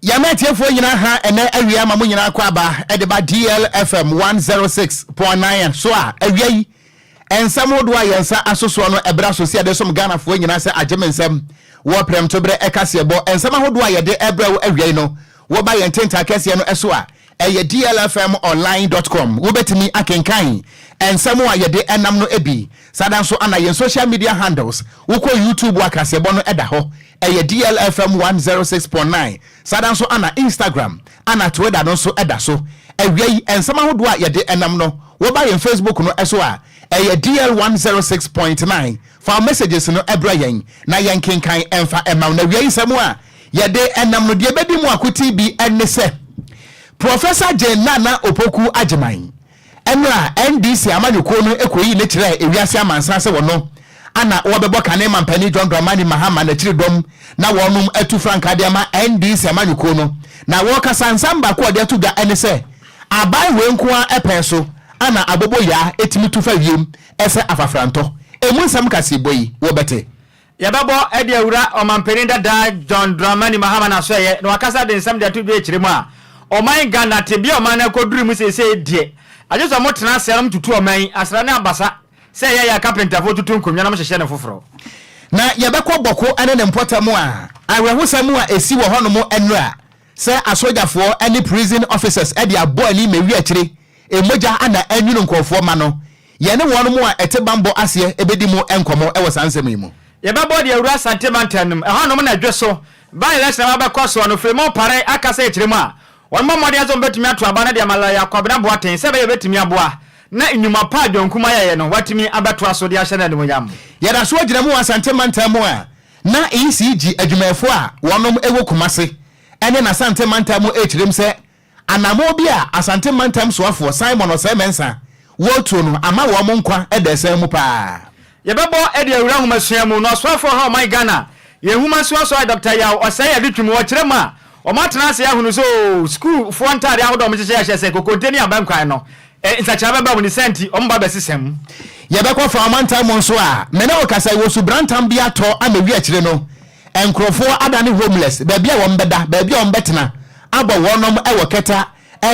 yɛma atiefoɔ nyinaa ha ɛnɛ awia ma mo nyinaa kɔ aba ɛde ba dlfm 106.9 so a awia yi Nsɛm hodoɔ a yɛn nsa aso soɔ no ɛbra so sɛ yɛde som Ghanafoɔ nyinaa sɛ agye me nsɛm wɔ prɛmto berɛ kaseɛbɔ nsɛm ahodoɔ a yɛde brɛ wo awiei no woba yɛn tentaa kɛseɛ no so a ɛyɛ dlfmonline dot com wobɛtumi akenkan nsɛm a yɛde nam no bi saa da nso ana yɛn social media handles wokɔ youtube a kaseɛbɔ no da hɔ ɛyɛ dlfm one zero six point nine saa da nso ana instagram Anna Tueda no nso da so. Awia yi, nsɛm ahodoɔ a yɛde nam no, woba yɛn Facebook no so a, ɛyɛ DL one zero six point nine. Fa wo messages no brɛ yɛn na yɛnkenkan mfa mma wo. Na awia yi nsɛm a yɛde nam no, deɛ ɛbɛdi mu akoten bi ne sɛ, Professor Jane Nana Opoku Agyemang, Mmerɛ a NDC amanyɔkuo no kɔyii no kyerɛɛ ewiase amansan sɛ wɔno ana wɔbɛbɔ kane ma mpanin John Dramani Mahama n'akyiri dɔm na wɔnom atu frankaa de ama NDC amanyɔkuo no na wɔkasa nsɛm baako a wɔde ato dwa ne sɛ aban wei nko ara pɛn so ana aboboyaa tumi tu fa wiem sɛ afafrantɔ. Ɛmu nsɛm kaseɛbɔ yi wobɛte. Yɛbɛbɔ de awura Ɔmanpanin dada John Dramani Mahama n'asoɛeɛ na wakasa de nsɛm de ato dwa akyire mu a ɔman Ghana tebea ɔman no akɔduru mu seesei deɛ agye sɛ ɔmo tena aseɛ na ɔmo tutu ɔman yi asra ne abasa sɛ ɛyɛ ya kapentafoɔ tutu nkonnwa na ɔmo hyehyɛ no foforɔ. Na yɛbɛkɔ Bɔko ne ne mpɔtam a awerɛhosɛm a ɛsi wɔ hɔnom nnora Sɛ asogyafoɔ ne prison officers de abɔ ani ma ewi akyire mmogya na anwunu nkorɔfoɔ ma no, yɛne wɔn mo a ɛte bammɔ aseɛ bɛdi mo nkɔmmɔ wɔ saa nsɛm yi mu. Yɛbɛbɔ deɛ awura Asante mantam no mu ɛhɔ nom na dwe so by election a wabɛkɔ soɔ no firi mu pare aka sɛ akyire mu a wɔn bɔ mmɔden sɛ wɔn bɛtumi ato aba no de ama lɔya Kwabena Boateng sɛ ɛbɛyɛ ɔbɛtumi aboa na nnwuma pa a John Kumah yɛeɛ no watumi abɛtoa so de ahyɛ no animuonyam. Yɛda so gyina mu wɔ Asante mantam mu a Na ECG adwumayɛfoɔ a wɔnom wɔ Kumase ne n'Asante mantam mu rekyerem sɛ anammɔn bi a Asante mantam soafoɔ Simon Osei Mensah wɔretuo no ama wɔn nkwa da asiane mu paa. Yɛbɛbɔ de awura nhomasua mu na ɔsoafoɔ ha ɔman Ghana yɛn nwoma nsuasoae Dɔkta Yaw Osei Adutwum wɔ kyerɛ mu a wɔatena ase ahunu sɛ oo sukuufoɔ ntaadeɛ ahodoɔ a wɔhyehyɛ hyɛ sɛ kokonte ne abankwan no E Nsakyera bɛba wo ne saa nti ɔmo ba bɛsesɛ mo. Yɛbɛkɔ fa ɔmantam mu nso a me ne wo kasa wɔ subrantam bi atɔ ama wi akyire no nkurɔfoɔ adane homeless baabi a wɔn bɛda baabi a wɔn bɛtena abɔ wɔnom wɔ kɛta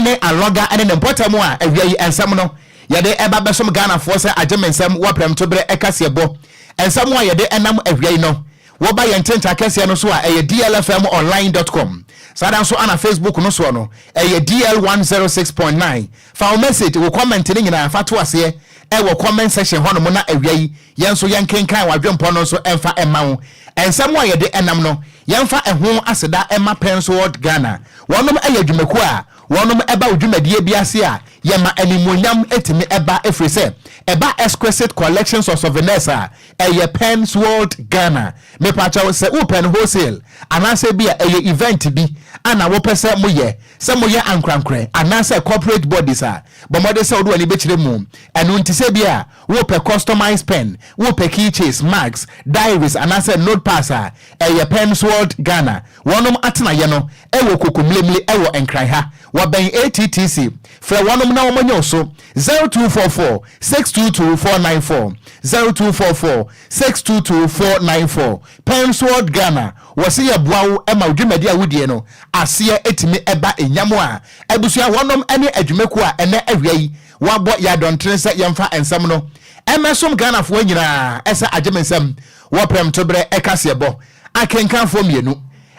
ne alɔga ne ne mpɔtam a awia yi nsɛm no yɛde ba bɛsom Ghanafoɔ sɛ agye me nsɛm wɔ prɛmtoberɛ kaseɛbɔ nsɛm a yɛde nam awia yi no Woba yɛn Ntentan kɛseɛ no so a, ɛyɛ dlfmonline dot com. Saa ara nso na Facebook no soɔ no, ɛyɛ dl one zero six point nine. Fa wo message, wo comment no nyinaa fa to aseɛ wɔ comment section hɔnom na awia yi yɛn nso yɛnkenkan w'adwempɔ no nso mfa mma wo. Nsɛm a yɛde nam no, yɛmfa ɛho aseda mma Pensword Ghana. Wɔnom yɛ adwumakuo a wɔnom ba wo dwumadie bi ase a yɛma animuonyam tumi ba ɛfiri sɛ ɛba exquisite collections of souvenirs a Ɛyɛ Penn's World Ghana. Mepa kyɛw sɛ wo pɛn wholesale anaasɛ bi a ɛyɛ event bi a na wo pɛ sɛ mo yɛ, sɛ mo yɛ ankorankorɛ anaasɛ corporate bodies a, bɔ mmɔden sɛ wo de w'ani bɛkyerɛ mu. Ɛno nti sɛ bi a wo pɛ customized pen, wo pɛ key chains, mugs, diaries anaasɛ note pads a, ɛyɛ Penn's World Ghana. Wɔnom atenaeɛ no ɛwɔ Koko Mlimli ɛwɔ Nkran ha. Wɔbɛn ATTC. Frɛ wɔnom na wɔn anya wo so. Zero two four four six two two four nine four zero two four four six two two four nine four Pensword Ghana wɔse yɛboa wo ma wo dwumadi a wodie no aseɛ tumi ba nyamoa a abusua hɔnom ne adwumakuo a ɛnɛ awia yi wɔabɔ yɛn adɔntene sɛ yɛmfa nsɛm no mmɛsom Ghanafoɔ nyinaa sɛ agyemensɛm wɔ prɛmtoberɛ kaseɛbɔ Akenkanfoɔ mmienu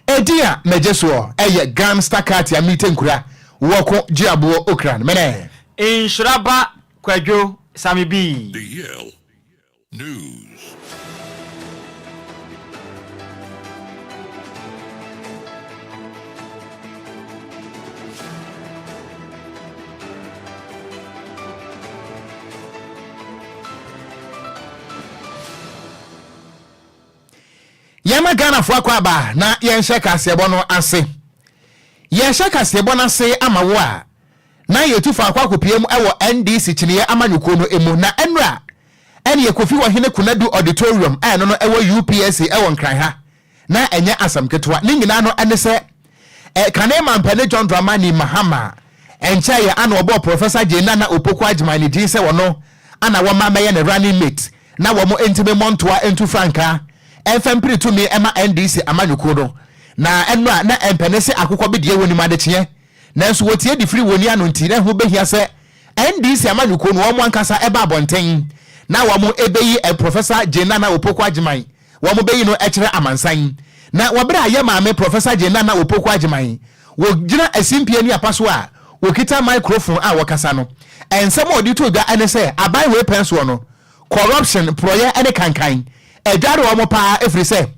edin a megye soɔ yɛ Gram Star Katia Mite Nkura Wɔko Gyeaboɔ Okran Mene. Nhyira ba Kwadwo Same Bii. The Yale News. Yɛma Ghanafoɔ akwaaba na yɛnhyɛ kaseɛbɔ no ase. Yɛrehyɛ kaseɛbɔ no ase ama wo a, na yɛtu faako akɔpiam wɔ NDC kyiniiɛ amanyɔkuo no mu na nnora ne yɛ Kofi Ɔhene Konadu Auditorium a ɛno no ɛwɔ UPSC wɔ Nkran ha na ɛnyɛ asɛm ketewa. Ne nyinaa no ɛne sɛ Eh, kane mampɛne John Dramani Mahama ɛnkyɛeɛ ana wɔbɔɔ Professor Jane Nana Opoku Agyemang ne din sɛ wɔno ana wɔma mɛyɛ ne running mate na wɔn nti me mmɔ ntoa ntu frankaa ɛmfa mpiri tumi ma NDC amanyɔkuo no na ɛno a na ɛmpɛne sɛ akokɔ bedeɛ wɔnim adekyeɛ nanso wɔtie de firi wɔni ano nti na ɛho bɛhia sɛ NDC amanyɔkuo no wɔn ankasa ɛba abɔnten na wɔn ɛbɛyi eh, Professor Jane Nana Opoku Agyemang wɔbeyi no akyerɛ amansan. Na wɔ bere a yɛn maame Professor Jane Nana Opoku Agyemang wɔ gyina asimpie ani apa so a wɔkita microphone a wɔkasa no, nsɛm a ɔde too dwa ne sɛ aban wei pɛn soɔ no, corruption, porɔeɛ ne kankan adware wɔn pa ara ɛfiri sɛ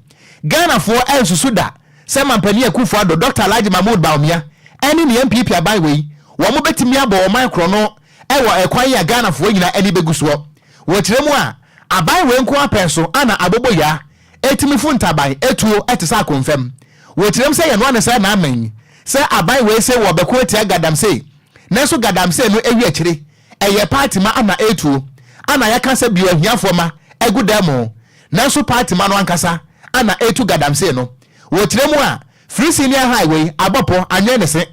Ghanafoɔ ansusu da sɛ Mampanin Akufo-Addo, Doctor Alhaji Mahmood Bawumia ne ne NPP aban wei wɔbetumi abɔ ɔman korɔno wɔ ɛkwan yi a Ghanafoɔ nyinaa ani bɛgu soɔ. Wɔ kyerɛ mu a, aban wei nko ara pɛɛ so ana aboboyaa ɛtumi fu ntaban ɛtuo ɛte sɛ akonfɛm. Wɔ kyerɛ mu sɛ yɛnoa no sɛ naaman yi, sɛ aban wei se wɔ bɛko atia Gadamsey, nanso Gadamsey no ɛwi akyire ɛyɛ party ma ana ɛtuo, ana yɛka sɛ bio ahiafoɔ ma ɛgu dan mu, nanso party ma no ankasa ana ɛtu Gadamsey no. Wɔ kyerɛ mu a, firi senior high wei abɔ pɔ anwɛn ne se,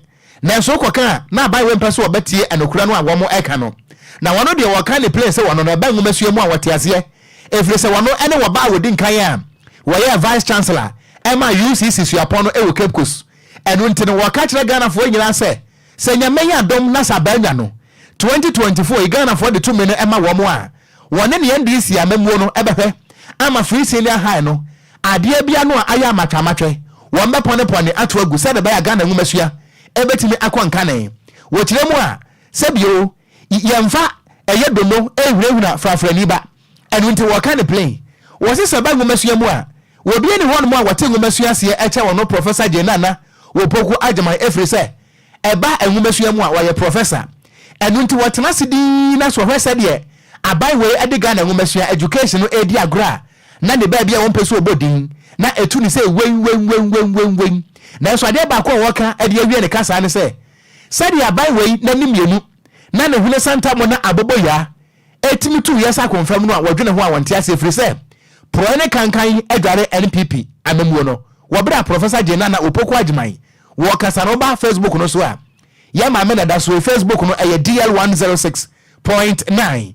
Nanso wokɔka a, na abayewa yi mpɛ sɛ ɔbɛtie nokorɛ no a wɔreka no. Na wɔn deɛ wɔreka ne plen sɛ wɔn no ɛba nwomasua mu a wɔte aseɛ, ɛfiri sɛ wɔn ne wɔba a wɔdi nkan a wɔyɛɛ Vice Chancellor ma UCC suapɔn no wɔ Cape Coast. Ɛno nti no wɔka kyerɛ Ghanafoɔ nyinaa sɛ, sɛ Nyame yɛ adom na sɛ abaanwa no, 2024 yi, Ghanafoɔ de tumi no ma wɔn a, wɔne ne NDC amammuo no bɛhwɛ ama Free Senior High no Adeɛ bia no a ayɛ amatwamatwɛ wɔn bɛ pɔne pɔne ato agu sɛde ɛbɛyɛ a Ghana nwomasua ɛbɛtumi akɔ nkane wɔ kyerɛ mu a sɛ bio y yɛnfa ɛyɛ dono ɛhunahuna frafrani ba ɛno nti wɔka no plain wɔse sɛ ɛba nwomasua mu a wɔbia ni hɔnom a wɔte nwomasua aseɛ ɛkyɛ wɔn Professor Jane Nana Opoku Agyemang ɛfiri sɛ ɛba nwomasua mu a wɔyɛ Professor ɛno nti wɔtena ase dinn na so hwɛ sɛdeɛ aban wei ɛde Ghana nwomasua, education, no ɛredi agorɔ a na ne baabi a wɔmpɛ sɛ wɔbɔ din, na ɛtu no sɛ wen, wen, wen, wen, wen, wen. Nanso adeɛ baako a wɔka de awie ne kasaa ne sɛ, Sɛdeɛ aban wei n'ani mmienu, na ne hwene santammɔ na aboboyaa ɛtumi tu wiase akonfam no a wɔdwene ho a wɔnte aseɛ ɛfiri sɛ porɔɛ ne kankan adware NPP amammuo no wɔ berɛ a Professor Gye Nana Opoku Agyeman wɔ ɔkasa no ba Facebook no so a yɛn maame na da so yi Facebook no ɛyɛ DL one zero six point nine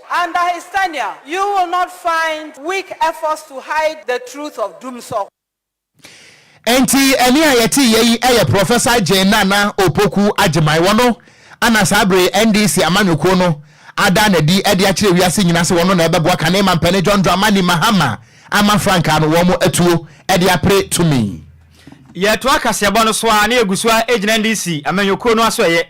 Under his tenure, you will not find weak efforts to hide the truth of Dumsor. Enti ɛne a yɛteeɛ yi yɛ Professor Jane Nana Opoku Agyemang. Ɔno na saa bere yi NDC amanyɔkuo no ada no adi de akyerɛ wiase nyinaa sɛ ɔno na ɛbɛboa Kane Mampane John Dramani Mahama ama frankaa no wɔn atuo de apere tumi. Yɛtoa kaseɛbɔ no so ara na yɛgu so ara gyina NDC amanyɔkuo no asoɛeɛ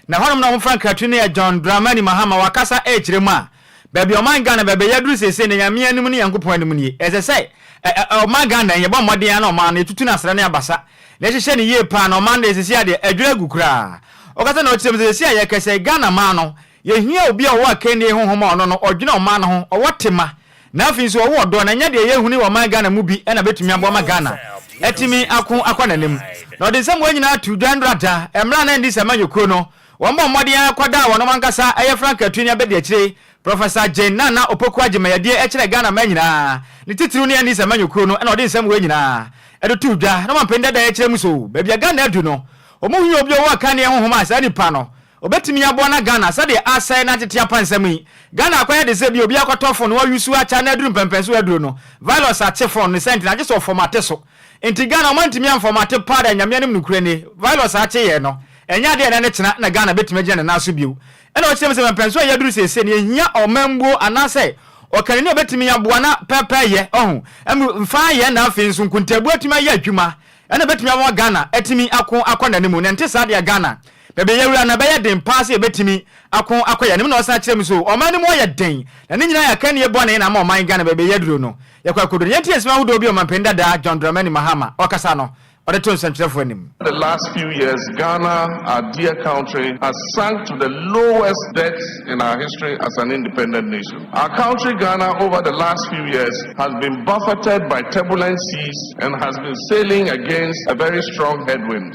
Na hɔnom na wɔfrɛ nkratwe no yɛ John Dramani Mahama wakasa ɛkyerɛ mu a baabi a ɔman Ghana baabi a yɛaduru seesei no Nyame anim ne Nyankopɔn anim nie ɛsɛ sɛ ɛ ɛ ɔman Ghana yɛbɔ mmɔden ara na ɔman no yɛtutu no asra ne abasa na yɛhyehyɛ no yie paa na ɔman deɛ seesei adeɛ adwiri agu koraa ɔkasa na ɔkyerɛm sɛ seesei a yɛkɛsɛ Ghana man no yɛhia obi a ɔwɔ akannie honhom a ɔno no ɔdwene ɔman no ho ɔwɔ tema Na afei nso ɔwɔ ɔdɔ na ɛnyɛ deɛ yɛhu ne ɔman Ghana mu bi na bɛtumi aboa ma Ghana atumi ako akɔ n'anim. Na ɔde nsɛm wei nyinaa too dwa nnora da mmerɛ a na NDC amanyɔkuo no wɔbɔ mmɔden ara kɔda a wɔnom ankasa yɛ Frank Atuini abadiakyire Professor Jane Nana Opoku Agyemang-Adie ɛkyerɛ Ghana man nyinaa ne titiriw ne NDC amanyɔkuo no na ɔde nsɛm wei nyinaa de too dwa na wɔn mpanin dada yɛkyerɛ mu so baabi a Ghana adu no wɔn mu hia obi a ɔwɔ akanneɛ honhom a saa nipa no Obetumi aboa na Ghana sɛdeɛ asɛe na atete apa nsɛm yi. Ghana akɔyɛ de sɛ ebia obi akɔtɔ phone na wayusu akya na aduru mpɛmpɛn so aduro no virus ate phone no sɛnti na agye sɛ ɔfɔm ate so nti Ghana ɔmo antumi amfɔm ate paa da Nyame anim nokorɛ nie virus a akye yɛɛ no ɛnyɛ adeɛ a ɛnɛ ne kyena na Ghana betumi agyina ne nan so bio ɛna ɔkyerɛ mu sɛ mpɛmpɛnso a yaduru seesei no yɛhia ɔmanbuo anaasɛ ɔkanini a obetumi aboa na pɛpɛyɛ ɔho ɛm mfaa yɛn na afei nso nkontaabuo atumi ayɛ adwuma ɛna ebetumi ama Ghana atumi ako akɔ n'anim na ɛnte saa deɛ Ghana Baabi a yɛawura no, ɛbɛyɛ den paa sɛ yebetumi ako akɔ yɛn anim. Na ɔsan kyerɛ mu nso, Ɔman no mu ayɛ den, na ne nyinaa yɛ akannie bɔne na ama ɔman Ghana baabi a yɛaduru no, yɛkɔ akodu no. Yei nti na nsɛm ahodoɔ bi a Ɔmanpanin dadaa, John Dramani Mahama, ɔkasa no, ɔde too nsɛnkyerɛfoɔ anim. The last few years, Ghana, our dear country, has sunk to the lowest depths in our history as an independent nation. Our country, Ghana, over the last few years, has been buffeted by turbulent seas and has been sailing against a very strong headwind.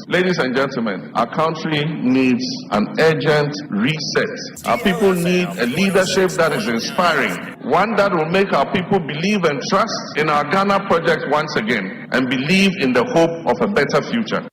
Ladies and gentlemen, our country needs an urgent reset. Our people need a leadership that is inspiring, one that will make our people believe and trust in our Ghana project once again and believe in the hope of a better future.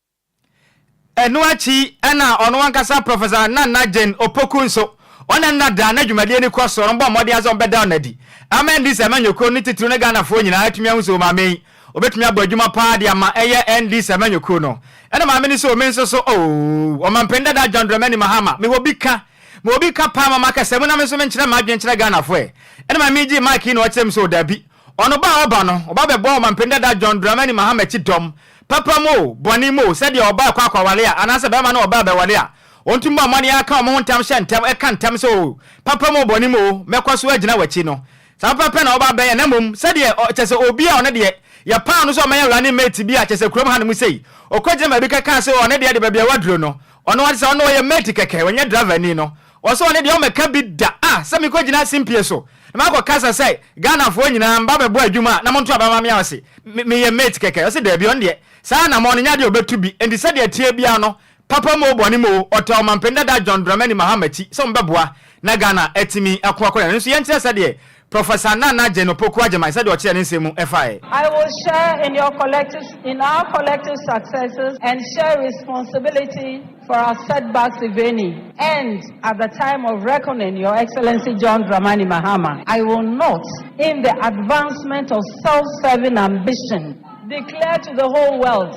Ɛno akyi na ɔno ankasa Professor Nana Jane Opoku nso, ɔne no na daa na dwumadie no kɔ soɔ no, bɔɔ mmɔden ara sɛ wɔbɛda no adi ama NDC amanyɔkuo no titiriw ne Ghanafoɔ nyinaa atumi ahu sɛ wɔn maame yi Obetumi abɔ adwuma paa de ama ɛyɛ NDC amanyɔkuo no. Ɛna maame no sɛ o me nso so ooh. Ɔmampanin dadaa John Dramani Mahama, mewɔ bi ka. Mewɔ bi ka paa mama kasa mu na me nso me nkyerɛ m'adwene nkyerɛ Ghanafoɔ ɛ. Ɛna maame yi gyee mic yi na ɔkyerɛ me sɛ o daabi. Ɔno ba a ɔba no, ɔba bɛbɔ Ɔmampanin dadaa John Dramani Mahama akyi dɔm. Papa mu o, bɔne mu o, sɛdeɛ ɔba rekɔ akɔware a, anaasɛ barima ne ɔbaa bɛware a, wɔntumi bɔ mmɔden aka wɔn ho ntam hyɛ ntam, ɛka ntam sɛ o, papa mu o, bɔne mu o, mɛkɔ so agyina w'akyi no. Saa pɛ pɛ na wɔba bɛyɛ, na mmom sɛdeɛ, ɔ, kyerɛ sɛ, obi a ɔno deɛ, yɛpaw no sɛ ɔmmɛyɛ running mate bi a, kyerɛ sɛ, kurom hanom sei, ɔkɔgyina baabi kɛkaa sɛ, ɔ, ɔno deɛ de baabi a waduro no, ɔno ara sɛ, ɔno ɔyɛ mate kɛkɛ, ɔnyɛ driverni no, ɔsɛ ɔno deɛ ɔmmɛka bi da, a, sɛ mekɔgyina simpie so, na makɔkasa sɛ, Ghanafoɔ nyinaa, mba bɛbɔ adwuma a, na monto aba mma me a, ɔse, me, meyɛ mate kɛkɛ, ɔse, daabi, ɔno deɛ, saa anammɔn no nyɛ adeɛ a ɔbɛtu bi, enti sɛdeɛ ɛteɛ biara no, Papa mu o bɔne mu o ɔtaa ɔmampanin dada John Dramani Mahama akyi sɛ wɔbɛboa na Ghana atumi ako akɔ n'anim nso yɛnkyerɛ sɛdeɛ Professor Nana Adjei Opoku Agyemang sɛdeɛ ɔkyerɛɛ ne nsɛm mu ɛfaeɛ. I will share in your collective in our collective successes and share responsibility for our setbacks if any and at the time of reckoning Your Excellency John Dramani Mahama I will not in the advancement of self-serving ambition declare to the whole world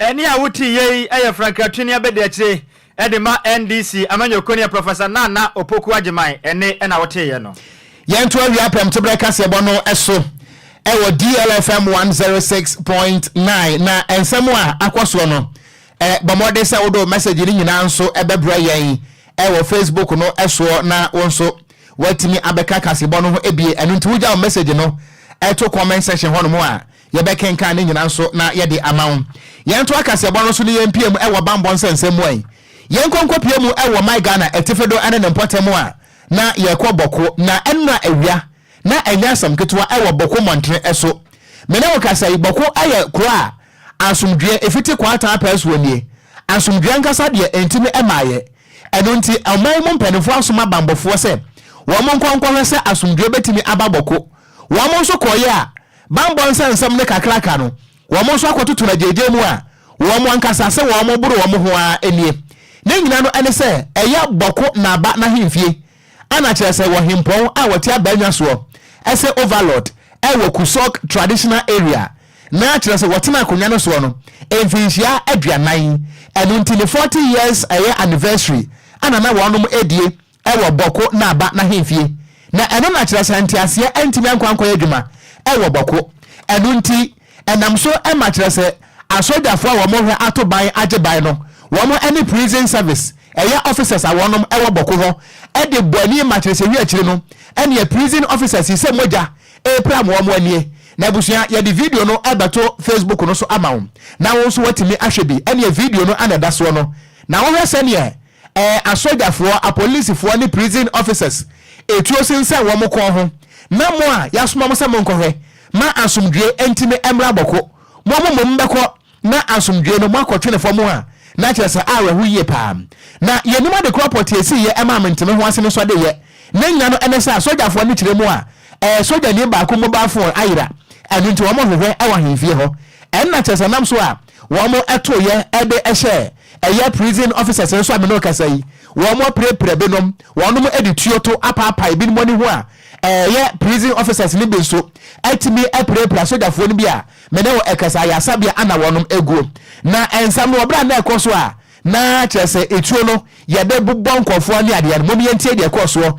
Ɛnne a wotiiɛ yi yɛ frankratuini abadiakyire de ma NDC amanyɔkuo neɛ Professor Nana Opoku Agyeman ɛnne na woteeɛ no. Yɛnto awia apem teberɛ kaseɛbɔ no so wɔ DLFM one zero six point nine na nsɛm a akɔ soɔ no, bɔ mmɔden sɛ wode wo message no nyinaa nso bɛbrɛ yɛn wɔ Facebook no soɔ na wo nso woatumi abɛka kaseɛbɔ no ho bi. Ɛno nti wogya wo message no to comment section hɔnom a, Yɛbɛkenkan ne nyina nso na yɛde ama wo. Yɛnto akaseɛbɔ no so ne yɛmpie mu wɔ bammɔ nsɛnsɛm mu ɛ. Yɛnkɔ nkɔpie mu wɔ my Ghana atifi do ne ne mpɔtam a na yɛkɔ Bɔko na ɛnora awia na ɛnyɛ asɛm ketewa wɔ Bɔko mmɔntene so. Me ne wo kasa yi, Bɔko yɛ kuro a asomdwoeɛ fiti kɔ ataa pɛɛ soɔ nie. Asomdwoeɛ ankasa deɛ ɛntumi mmaeɛ. Ɛno nti ɔman mu mpaninfoɔ asoma bammɔfoɔ sɛ wɔn nkɔ nkɔhwɛ sɛ asomdwoeɛ bɛtumi aba Bɔko. Wɔn nso kɔeɛ a, Bammɔ nsa nsɛm ne kakraka no, wɔn nso akɔtoto no agyaagyaa mu a wɔn ankasa se wɔn boro wɔn ho ara nie. Ne nyina no ne sɛ ɛyɛ Bɔko Naaba n'ahemfie, ana kyerɛ sɛ wɔ hempɔn a wɔte Abaanya soɔ, ɛse Overlord, ɛwɔ Kusɔg Traditional Area, na kyerɛ sɛ wɔtena akonwa no soɔ no mfinhyia aduanan, ɛno nti ne forty years ɛyɛ anniversary ana na wɔnom die wɔ Bɔko na Aba n'ahemfie, na ɛno na kyerɛ sɛ nteaseɛ antumi ankɔ ankɔyɛ adwuma wɔ Bɔko. Ɛno nti, ɛnam so ma kyerɛ sɛ asɔdwafoɔ a wɔn hwɛ ato ban agye ban no, wɔn ne Prison Service ɛyɛ officers a wɔnom wɔ Bɔko hɔ de bɔ ani ma kyerɛ sɛ wi akyiri no ɛneɛ prison officers yi sɛ mogya repram wɔn anie. Na abusua yɛde video no bɛto Facebook no so ama wo na wo nso woatumi ahwɛ bi ɛneɛ video no ana ɛda soɔ no na wohwɛ sɛneɛ Ɛɛ asogyafoɔ, apolisifoɔ ne prison officers etuo sensɛn wɔn kɔn ho na mo a yasoma mo sɛ monkɔhwɛ ma asomdwie ntimi mmra bɔko mo mo mmom bɛkɔ na asomdwie no moakɔtwene fɔm a na kyerɛ sɛ awerɛho yie paa na yɛnim adekorɔ pɔtee esiiyɛ ɛmaa menteme ho asene sɔdeyɛ ne nnya no ɛne sɛ asogyafoɔ no kyerɛ mu a ɛɛ sogyani baako mobile phone ayera ɛno nti wɔn hwehwɛ ɛwɔ ahemfie hɔ ɛnna kyerɛ sɛ nam so a wɔn ɛtoyɛ ɛde ɛhyɛɛ Ɛyɛ prison officers no so a me ne wo kasa yi, wɔn apirapira binom, wɔnom de tuo to apaapae binom ani ho a, ɛyɛ prison officers no bi nso atumi apirapira sogyafoɔ no bi a me ne wo ɛkasa ayasabea ana wɔnom aguo. Na ɛnsɛm no wɔ berɛ a na ɛkɔ so a na kyerɛ sɛ etuo no yɛde bobɔ nkurɔfoɔ ne adeɛ no, mom yɛntie deɛ ɛkɔɔ soɔ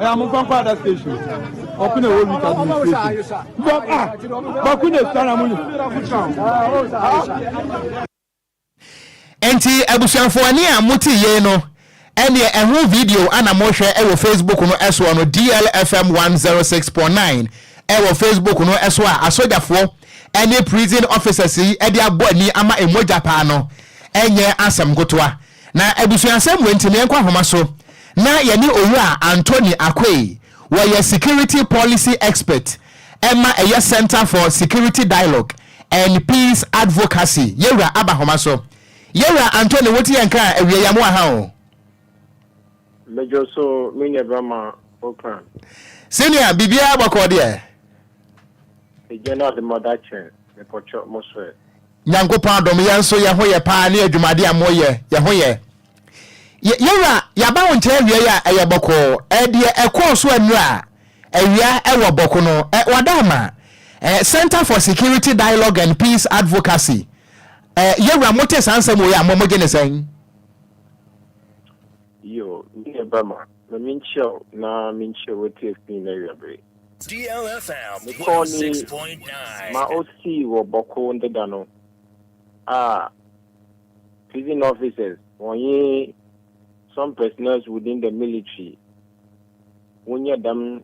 Ɛyɛ mo nfa nkɔ ada station. Ɔko na ɛwɔ route administration. Bɔ a bako na esua na mo yi. Enti abusuafoɔ ɛne a mo te yei no ɛneɛ ɛho video ana mo hwɛ ɛwɔ Facebook no ɛsoɔ no DLFM 106.9 ɛwɔ Facebook no ɛso a asogyafoɔ ɛne prison officers yi ɛde abɔ ani ama ɛmogya paa no ɛnyɛ asɛm nkotoa Na abusuasɛm wei nti na yɛnkɔ ahoma so na yɛne Owura Anthony Akwei, wɔyɛ Security Policy Expert ma ɛyɛ Centre for Security Dialogue and Peace Advocacy, Yɛwura, aba ahoma so. Yɛwura Anthony, wote yɛn nka a, awiei a, mowɔ ha o? Medwo so, me nua bɛrima Ocran. Senior, biribiara bɔkɔɔ deɛ? Egya no adom ada kyɛn, mepɔkyɔ, mo so ɛ? Nyankopɔn adom yɛn nso yɛn ho yɛ paa ne adwumade a moyɛ yɛn ho yɛ. Yɛ yɛwura yɛaba wo nkyɛn awiei a ɛyɛ bɔkɔɔ ɛɛ deɛ ɛkɔɔ so anura awia ɛwɔ bɔko no ɛɛ wada ama ɛɛ Centre for Security Dialogue and Peace Advocacy ɛɛ yɛwura mote saa nsɛm wei a mo mogye ne sɛn? Yoo, me ne ba ma, ma menkyia wo na menkyia wo atiafi nyinaa awiabere. Mekɔɔ ne ma ɔsii wɔ Bɔko deda no a prison officers wɔnye some personnels within the military wonyɛ dɛm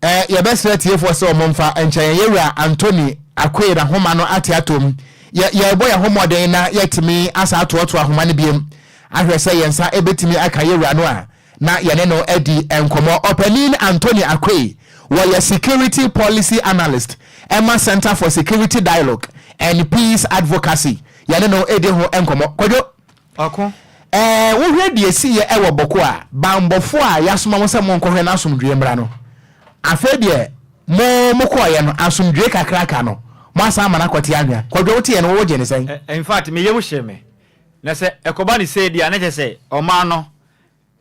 Ɛ, yɛbɛsrɛ atiefoɔ sɛ wɔmfa nkyɛ yɛn Yɛwura Anthony Akoye n'ahoma no ate atom. Yɛ, yɛrebɔ yɛn ho mmɔden na yɛatumi asan atoɔtoɔ ahoma no biom, ahwɛ sɛ yɛn nsa bɛtumi aka Yɛwura no a na yɛne no adi nkɔmmɔ. Ɔpanin Anthony Akoye, wɔyɛ Security Policy Analyst ma Centre for Security Dialogue and Peace Advocacy, yɛne no redi ho nkɔmmɔ. Kwadwo. Ɔko. Ɛɛ, wohwɛ deɛ ɛsiiɛ wɔ Boko a, banbɔfoɔ a yɛasoma mo sɛ monkɔhwɛ no asomdwoeɛ mmra no, afei deɛ mo mokɔeɛ no, asomdwoeɛ kakra ka no, moasan ama no akɔte anwea. Kwadwo, woteeɛ no, wo wogyee no sɛn? Ɛ, in fact, me yam hyee me. Na sɛ ɛkɔba no sei deɛ a, na kyerɛ sɛ ɔman no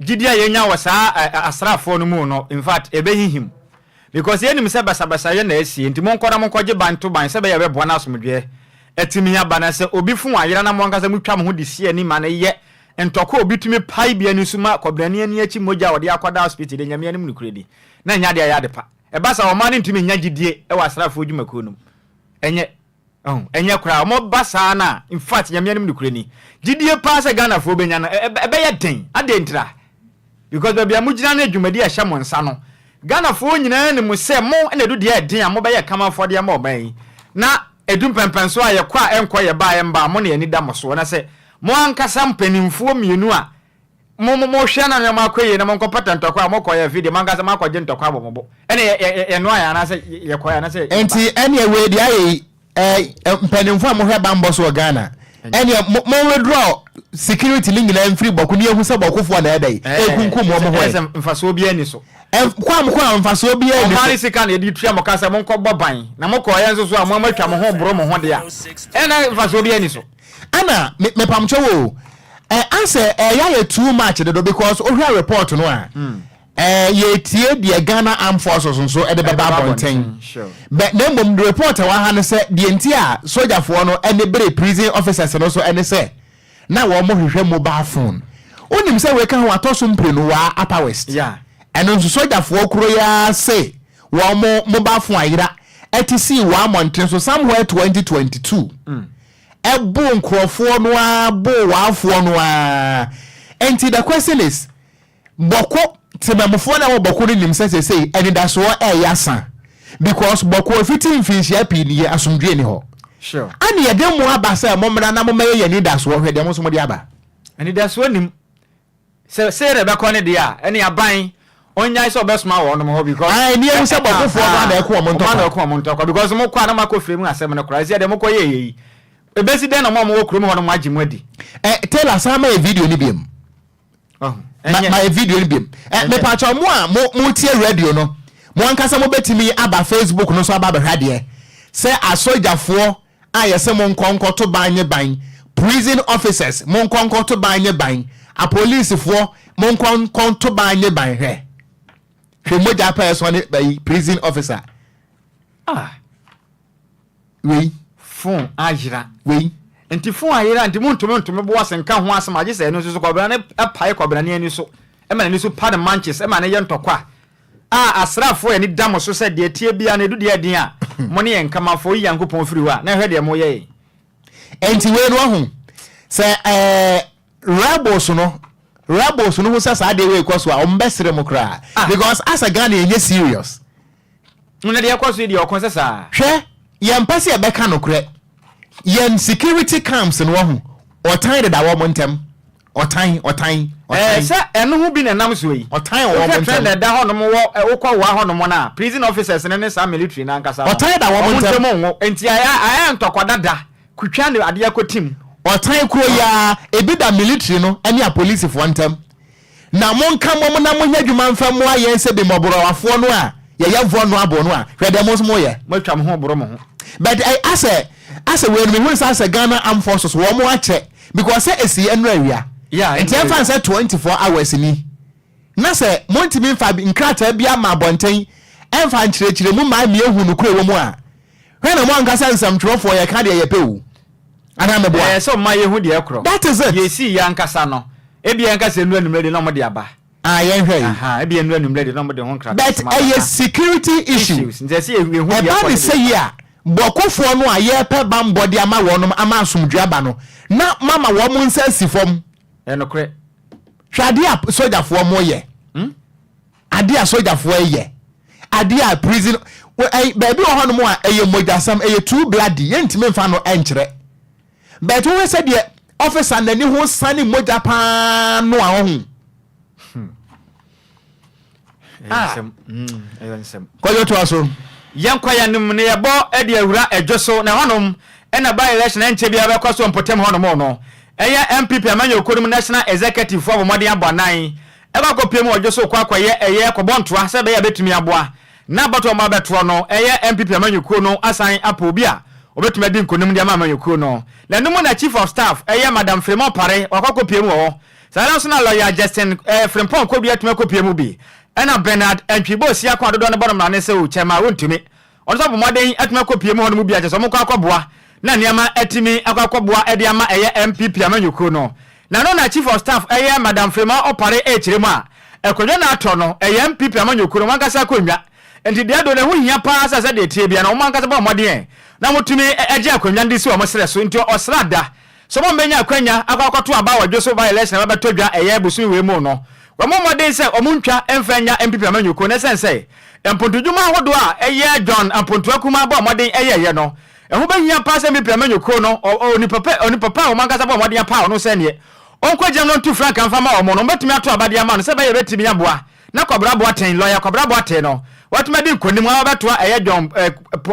Gyidi a yɛnya wɔ saa asraafoɔ no mu no, in fact, ɛbɛhinhim. Because yɛnim sɛ basabasayɛ na asi, enti monkɔ na monkɔgye ban to ban sɛ ɛbɛyɛ a ɛbɛboa na asomdwoeɛ atumi aba. Na sɛ obi fo ayera na mo ankasa motwa mo ho de si ani ma no yɛ ntɔkwa a obi tumi pae bi ani so ma kɔbenani ani akyi mogya a wɔde akɔda asopiti de, Nyame anim nokorɛdi na ɛnyɛ adeɛ a ɛyɛ adepa. Ɛba saa a, ɔman no ntumi nnya gyidie wɔ asraafoɔ dwumakuo no mu. Ɛnyɛ. Oh ɛnyɛ koraa ɔmɔ ba saa no a infact Nyame anim nokorɛ ni gyidie paa sɛ Ghana foɔ bɛnya no ɛbɛyɛ den adɛn ntira because baabi a mo gyina ne dwumadi a ɛhyɛ mo nsa no Ghana foɔ nyinaa nim sɛ mo na ɛdu deɛ ɛden a mo bɛyɛ kama afɔdeɛ ma ɔman yi na ɛdu mpɛnpɛnsoɔ a yɛkɔ a ɛnkɔ yɛba a ɛmba a mo na yɛn ani da mo soɔ na sɛ mo ankasa mpaninfoɔ mmienu a Mo mo mohwɛ na nneɛma akɔ yie na mo nkɔ pata ntɔkwa a mo kɔ yɛ video mo ankasa mo akɔ gye ntɔkwa wɔ mo bo ɛna yɛ yɛ yɛ noa yɛ anaasɛ yɛ kɔ yɛ anaasɛ yɛ ba. Nti ɛneɛ wei deɛ ayɛ yi ɛɛ mpaninfoɔ a mo hwɛ banbɔ so wɔ Ghana ɛneɛ mo mo withdraw security no nyinaa mfiri bɔko ne yɛhu sɛ bɔko foɔ na ɛɛdɛ yi ɛɛkunkum wɔn ho ɛ. Mfasoɔ biara nni so. Kɔ a mo kɔ a mfasoɔ biara nni so. Wɔn ara sika na yɛde tua mo ka sɛ mo nkɔ bɔ ban na mo kɔ yɛ nso so a mo mo atwa mo ho boro mo ho deɛ a ɛna mfasoɔ biara nni so. Ɛna me mepamkyɛw o ɛ ansɛ ɛyɛ ayɛ too much dodo because wohwɛ report no a hmm. ɛ yɛtie deɛ Ghana Armed Forces nso ɛde bɛba abɔnten bɛ na mmom report ɛwɔ ha no sɛ deɛ nti a sogyafoɔ no ɛne bere prison officers no so ɛne sɛ na wɔn mo hwehwɛ mobile phone wonim sɛ wei ka ho atɔ so mprenu waa Upper West ɛno nso sogyafoɔ kuro yɛ ase. wɔn mo mo ba fo ayera ɛte sii wɔ amɔnten so somewhere twenty twenty two ɛbo nkorɔfoɔ no ara bo waafoɔ no ara nti the question is bɔko temamufoɔ na ɛwɔ bɔko no nim sɛ sɛsei anidasoɔ ɛyɛ asa because bɔko efiti mfinhyia pii ni yɛ asomdwie ni hɔ sure ɛne yɛde mo aba sɛ mo mmra na mo mmɛyɛ yɛ anidasoɔ hwɛ deɛ mo nso mo de aba anidasoɔ nim Sɛ sei na ɛbɛkɔ ne deɛ a, ɛne aban ɔnyae sɛ ɔbɛsoma wɔ ɔnom hɔ because. Ae ne yɛhu sɛ bɔkofoɔ no ana ɛko ɔmo ntɔkwa. Ɔmo ana ɔko ɔmo ntɔkwa because mo kɔ a na mo akɔ fire mu asɛm no koraa, ɛsiɛ deɛ mo kɔ yɛ yɛ yi, ɛbɛsi dɛn na mo a mo wɔ kurom hɔ no mo agye mo adi. Eh Taylor san ma yɛ video no biom. Wahu? Ɛnyɛ. Ma yɛ video no biom. Eh me pakyɛw mo a mo mo tie radio no, mo ankasa mo bɛtumi aba Facebook no so aba abɛhwɛ adeɛ sɛ asɔgyafoɔ a yɛse monkɔ nkɔto ban nye ban, prison officers monkɔ nkɔto ban nye ban, apolicefoɔ monkɔ nkɔto ban nye ban hwɛ hwɛ mogya pɛ ɛsɔ ne bayi prison officer ah wei. Phone ayera. Wei. Nti phone ayera nti montumi ntome bo ase nka ho asem agye sɛ ɛno nso so kɔbena no pae kɔbena no ani so ma n'ani so pa no manches ma no yɛ ntɔkwa. A asraafoɔ ani da mo so sɛ deɛ ɛteɛ biara no ɛdu deɛ ɛden a, mo ne yɛn nka ma fa oyi Nyankopɔn firi hɔ a, na hwɛ deɛ moyɛ yɛn. Enti wei no wahu sɛ ɛɛ rebels no rebels no hu sɛ saa adeɛ wei rekɔ so a wɔn bɛ sere mo koraa Ah. because asɛ Ghana yɛn nyɛ serious. Mo na deɛ ɛkɔ so yi deɛ ɔko sɛ saa. Hwɛ yɛn mpɛ sɛ yɛbɛka nokorɛ yɛn security camps no wahu ɔtan deda wɔn ntɛm Ɔtan, ɔtan, Ɛɛ, ɔtan. sɛ ɛno ho bi na ɛnam soɔ yi. Ɔtan a ɔwɔ Wohwɛ wɔn trend a ntam. ɛda hɔnom wɔ ɛ, wokɔ WA hɔnom no a, prison officers no ne saa military no ankasa no, Ɔtan da wɔn wɔn ntam. ntam nwo. Enti ayɛ, ayɛ ntɔkwa dada. Kutwa ne adeɛ akɔti mu. Ɔtan koro yi ara, ebi da military no ne apolisifoɔ ntam. Na monka mmom na monyɛ adwuma mfa mmoa yɛn sɛ bemmɔborɔwafoɔ no a yɛyɛ vulnerable no a, hwɛ deɛ mo nso moyɛ. Moatwa mo ho reboro mo ho. But ɛ, asɛ, asɛ wei no, mehu no sɛ asɛ Ghana Armed Forces, wɔn akyɛ Because sɛ ɛsii ɛnora awia nti ɛmfa no sɛ 24 hours ni na sɛ montumi mfa nkrataa bi ama abɔnten ɛmfa nkyerɛkyerɛ mu mma ɛmia hu nokorɛ wɔ mu a hwɛ na moanka sɛ nsɛmtwerɛfoɔ yɛka deɛ yɛpɛ o anaa meboa? Ɛyɛ sɛ ɔma yɛhu deɛ ɛkorɔ. That is it. Deɛ ɛsii yɛ ankasa no, ebia yɛnka sɛ ɛnura anwummerɛ deɛ na wɔde aba. Ah yɛnhwɛ yi. Ahaa ebia nnura anwummerɛ deɛ na wɔde ho nkrataa But soma ɛyɛ kakra. security issue. Issues nti ɛsɛ yɛ yɛhu Ɛba biafoɔ ne no sɛ yi biafoɔ. a, bɔkofoɔ no a yɛrepɛ bammɔ de ama wɔn no ama asomdwoeɛ aba no, na moama wɔn nsa asi fam. Ɛyɛ nokorɛ. Hwɛ adeɛ a sogyafoɔ wɔyɛ. Hmm? Adeɛ a sogyafoɔ reyɛ. Adeɛ a prison wɔ- ɛy- baabi wɔ hɔnom a ɛyɛ mogyasɛm, ɛyɛ too bloody, yɛntumi mfa no nkyerɛ. But wohwɛ sɛdeɛ officer nani ho sane mogya paa no a ɔho ah mm, kɔyɔ toa so yɛnkɔ yɛnom ne yɛbɔ de awura adwo so na hɔnom ɛna by election ɛnkyɛ biara bɛkɔ so mpɔtam hɔnom no ɛyɛ MPP amanyɔkuo no mu national executive fo abɔ mmɔden abɔ anan ɛkɔ akɔpie mu ɔdwo so kɔ akɔyɛ ɛyɛ kɔbɔ ntoa sɛ ɛbɛyɛ a bɛtumi aboa Ná abatoɔ a wɔabɛtoɔ no yɛ NPP amanyɔkuo no asan apɛ obi a ɔbɛtumi adi nkonim de ama amanyɔkuo no. Na ɛno mu na Chief of Staff yɛ Madam Firimon Pare, wakɔ akɔpue mu wɔ hɔ. Saa ara nso na Lɔya Justin Frimpong Kodu atumi akɔpue mu bi. Ɛna Bernard Antwi Boasia ko a dodoɔ no bɔ no mmara no sɛ ɔkyɛ mma wɔntumi. Ɔno nso abɔ mmɔden atumi akɔpue mu hɔ no mu biara kyerɛ sɛ wɔkɔ akɔboa na nneɛma atumi akɔ akɔboa de ama ɛyɛ NPP amanyɔkuo no. Na no na chief of staff yɛ Madam Freema Opare ɛrekyerɛ mu a, akonnwa no atɔ no, ɛyɛ NPP amanyɔkuo no wɔn ankasa akonnwa, nti deɛ do no ɛho hia paa sɛ sɛdeɛ ɛteɛ biara no wɔn ankasa bɔ mmɔden na wɔtumi gye akonnwa no de si wɔn serɛ so, nti ɔsra da sɛ wɔn bɛnya akwanya akɔ akɔto aba wɔ Dwoso by election a bɛbɛtɔ dwa ɛyɛ bosome wei mu no, wɔmmɔ mmɔden sɛ wɔn ntwa mfa nnya NPP amanyɔkuo no ɛsiane sɛ mpontodwuma ahodoɔ a ɛyɛ John Ampontua Kumaa bɔɔ mmɔden yɛeɛ no Ɛho bɛhia paa sɛ Mipia menyo kuro no onipa pɛ, onipa pa a wɔn ankasa bɔɔ mmɔden apaw no sɛ neɛ ɔnkɔgyinam na ɔntu frankaa mfa mma wɔn no, wɔbɛtumi ato aba de ama no sɛ ɛbɛyɛ a ɛbɛtumi aboa na Kɔbra Boateng, lɔya Kɔbra Boateng no, watumi adi nkonim ara abɛtoa ɛyɛ John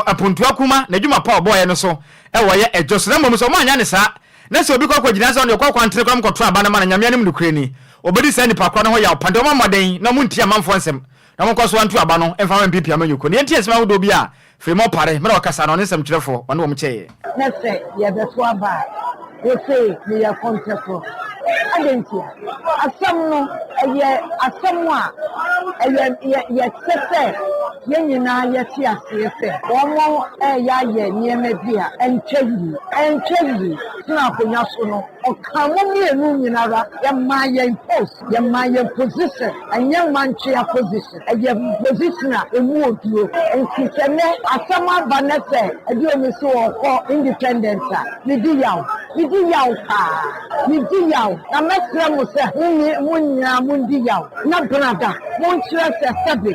Apontua Kumah n'adwuma pa a ɔbɔeɛ no so wɔ yɛ Dwo so, na mmom sɛ wɔannyɛ no saa na sɛ obi kɔ kɔgyina sɛ ɔno deɛ ɔkɔ akwantere koraa mu kɔto aba no ma no, Nyame anim nokorɛ ni, wɔbɛdi saa nipa korɔ no ho yaw pa. Nti wɔmmɔ mmɔden na wɔntie amanfoɔ nsɛm na wɔnkɔ so nto aba no mfa mma Mipia menyo kuro no. Yɛntie nsɛm ahodoɔ bi a Filemon Pare, mmerɛ a ɔkasa no, ɔne nsɛmtwerɛfoɔ, ɔne wɔn kyɛeɛ. Na sɛ yɛbɛto aba a, wose meyɛ kɔntɛkorɔ. Adɛn ntia? Asɛm no, ɛyɛ asɛm a ɛyɛ yɛ yɛsɛ sɛ yɛn nyinaa yɛte aseɛ sɛ wɔreyɛ ayɛ nneɛma bi a ɛntwa yie. Ɛntwa yie. Tena akonnwa so no, ɔkaa mo mmienu nyina ara, yɛmaa yɛn post. Yɛma yɛn position ɛnyɛ mantwea position, ɛyɛ position a ɛmu oduro. Nti sɛ nnɛ asɛm aba nnɛ sɛ Aduomi se ɔɔkɔ independent a, medi yaw. Medi yaw paa. Medi yaw. Na mɛsrɛ mo sɛ mo nye mo nyinaa mondi yaw na brada monkyerɛ sɛ sɛbe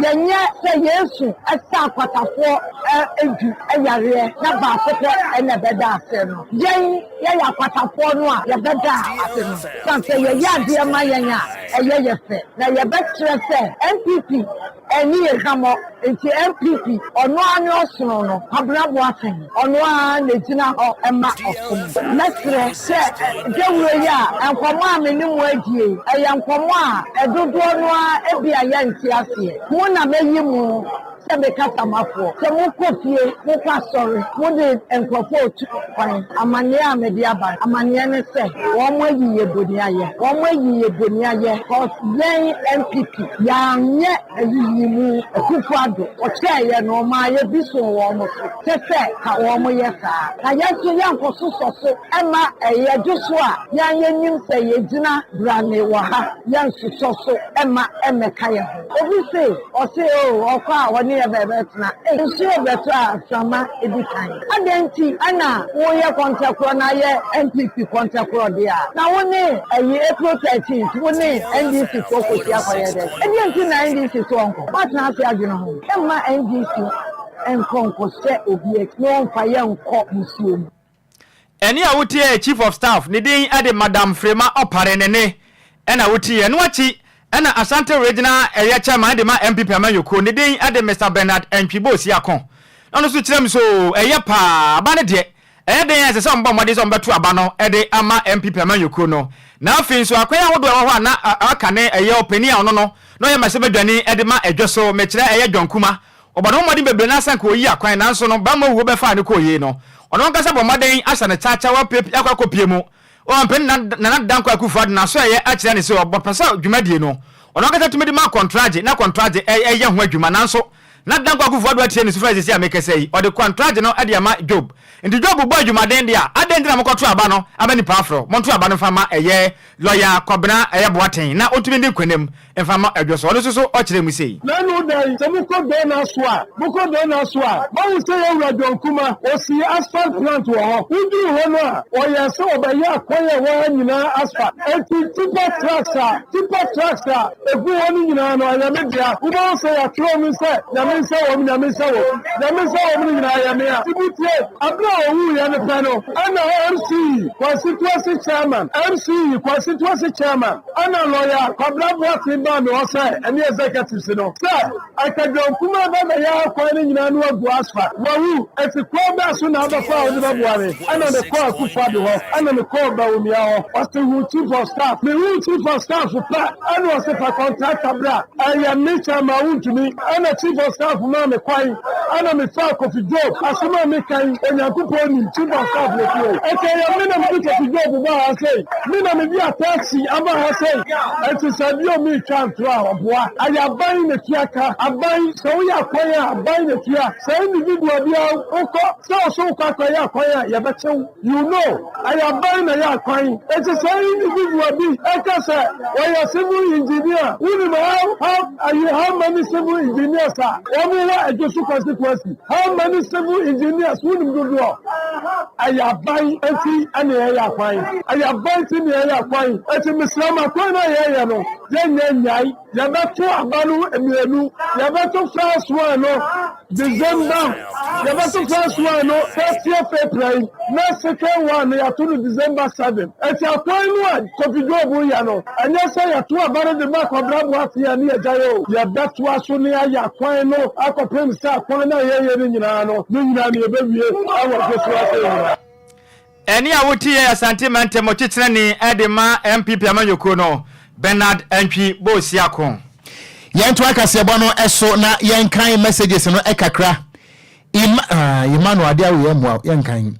yɛnyɛ sɛ Yesu sa akwatafoɔ du yareɛ na baako pɛ na ɛbɛda aseɛ no. Yɛn. Yɛyɛ akwatafoɔ no a, yɛbɛda ase no ka sɛ yɛyɛ adeɛ ma yɛn a ɛyɛ yɛ fɛ, na yɛbɛkyerɛ sɛ NPP anni yɛn hwammɔ, nti NPP ɔno ara ne ɔsono no, Kwabena Boateng, ɔno ara na ɛgyina hɔ ma ɔsom. Mɛsrɛ sɛ dawuro yi a nkɔmmɔ a me ne mo adie yi, ɛyɛ nkɔmmɔ a dodoɔ no ara ebia yɛnte aseɛ, mo na mɛyi mo, Sɛ me kasamafoɔ, sɛ mo kɔ fie, mo kɔ asɔre, mo de nkorɔfoɔ retu kwan, amaneɛ a me de aba, amaneɛ ne sɛ, wɔn ayi yɛ boniayɛ, wɔn ayi yɛ boniayɛ, cos yɛn NPP, yɛanyɛ ayiyimu, Akuffo Addo, ɔkyɛɛ yɛ no, ɔmaa yɛ bi soo wɔn so, kyɛ sɛ ka wɔn yɛ saa, na yɛn nso yɛn kɔ so sɔ so ma yɛ dwo so a, yɛn yɛ nim sɛ yɛ gyina brane wɔ ha, yɛn nso sɔ so ma mmɛka yɛ ho. Obi se ɔse oo ɔkɔ a ɔne yɛ bɛbɛtena ei nsuo rebɛtɔ a mframa di kan adɛn nti na woyɛ kɔntɛkorɔ na yɛ NPP kɔntɛkorɔ deɛ a na wo ne ɛyi April 13th wo ne NDC foɔ kɔsi akɔyɛ dɛn ɛdeɛn nti na NDC se ɔnkɔ woatena ase adwene ho mma NDC nkɔ nkɔhyɛ obi akyi na ɔmfa yɛ nkɔ nsuo mu. Ɛne a wotiɛɛ Chief of Staff ne din de Madam Frema Opare ne ne na wotiiɛ. Ɛno akyi na Ashanti Regional ɛyɛ Chairman de ma NPP amanyɔkuo ne din de Mister Bernard Antwibo Siako. Na ɔno nso kyerɛ mu sɛ oo ɛyɛ pa ara, aba no deɛ ɛyɛ den a ɛsɛ sɛ wɔbɔ mmɔden sɛ wɔbɛto aba no de ama NPP amanyɔkuo no. Na afei nso akwan ahodoɔ a ɛwɔ hɔ a na aka ne ɛyɛ ɔpanin a ɔno no na ɔyɛ mmarahyɛbadwani de ma Dwoso, mekyerɛ ɛyɛ John Kumah, Ɔbɔ ne ho mmɔden bebree na asanka oyi akwan, nanso no bammɔ wuo bɛfaa no kɔɔ yei no, ɔno ankasa bɔ mmɔden ahyɛ no kyaakyaa wɔ pie pii akɔ akɔpie mu. Ɔampɛ ne nan Nana Dankwa Akufo Addo n'asoɛeɛ akyerɛ no sɛ ɔbɔ pɛ sɛ dwumadie no ɔno ankasa tumi de ma kɔntragye na kɔntragye ɛ ɛyɛ ho adwuma, nanso Nana Dankwa Akufo Addo atie ne sufrɛ sɛsei a mekasa yi ɔde kɔntragye no de ama Job. Nti Job bɔɔ dwumaden de a, adɛn nti na monkɔto aba no ama nnipa aforo, monto aba no mfa ma ɛyɛ Lɔya Kɔbena Boateng na ɔntumi ndi nkonim Mfa mma odwo so. Ɔno nso so ɔkyerɛɛ mu sei. Na ɛno dɛn, sɛ mokɔ Donna so a, mokɔ Donna so a, moahu sɛ yɛn wura John Kumah, ɔsii asphalt plant wɔ hɔ. Woduruu hɔ no a, ɔyɛɛ sɛ ɔbɛyɛɛ kwan a ɛwɔ ha nyinaa asphalt. Enti tipper trucks a, tipper trucks a, ɛgu hɔ no nyinaa no, ɛyɛ me dea. Wobɛhu sɛ yɛatwerɛ mu sɛ, Nyame nhyɛ wɔ mu, Nyame nhyɛ wɔ mu, Nyame nhyɛ wɔ mu no nyinaa yɛ me a. Nti motie, aberɛ a ɔwuiɛ no pɛ no, ɛna MC, Constituency Chairman, MC, Constituency Chairman, Ɛnna lɔya Kwabena Boateng baa me hɔ sɛ, ɛne executives no, sɛ Akadwom kumaa bɛma yɛn akwan no nyinaa ano agu asfa. Wawu, enti kwan bɛn so na abɔfra a wode bɛboa me? Ɛnna mekɔɔ Akuffo Addo hɔ. Ɛnna mekɔɔ Bawumia hɔ. Ɔse, Hu Chief of Staff. Mehuu Chief of Staff pɛ, ɛnna ɔse, Fa contractor bra. Ɛyɛ me kyɛ ma wontumi. Ɛnna Chief of Staff maa me kwan. Ɛnna mefaa Kofi Job. Asɛm a meka yi, Onyankopɔn nim. Chief of Staff na ofii hɔ. Enti ɛyɛ me na mede Kofi Job baa ha sei. Me na mede ataase aba ha sei, enti sɛ bio meretwa ntorɔ a, ɔboa. Ɛyɛ aban na ɛtua ka. Aban, sɛ woyɛ akwan a, aban na ɛtua. Sɛ individual bi ara wokɔ, sɛ wo so wokɔ akɔyɛ akwan a, yɛbɛkye wo. You know, ɛyɛ aban na ɛyɛ akwan. Enti sɛ individual bi ka sɛ ɔyɛ civil engineer a, wonim how, how, how many civil engineers a wɔwɔ Adwosu constituency? How many civil engineers wonim dodoɔ? Ɛyɛ aban nti ɛna yɛyɛ akwan. Ɛyɛ aban nti na yɛyɛ akwan. Ɛti mesrɛ mo akwan no a yɛyɛ no yɛnyɛ nyae. Yɛbɛto aba no mmienu. Yɛbɛto first one no December. Yɛbɛto first one no thirtieth April na second one no yɛato no December seven. Ɛti akwan no a Kofi Job yɛ no. Ɛnyɛ sɛ yɛto aba no de ma akwabrɛ aboafee ne agyae o. Yɛbɛtoa so ne ayɛ akwan no akɔpem sɛ akwan no a yɛyɛ no nyinaa no, ne nyinaa no yɛbɛwie wɔ Joshua Asamoah. Ɛnne a wote yɛ Asante Mantam Ɔkyekyerɛni de ma NPP amanyɔkuo no, Bernard Antwi Boasiako. Yɛntoa kaseɛbɔ no so na yɛnkan messages no kakra. Im ah, Emmanuel ade awo yɛn mmoa yɛnkan.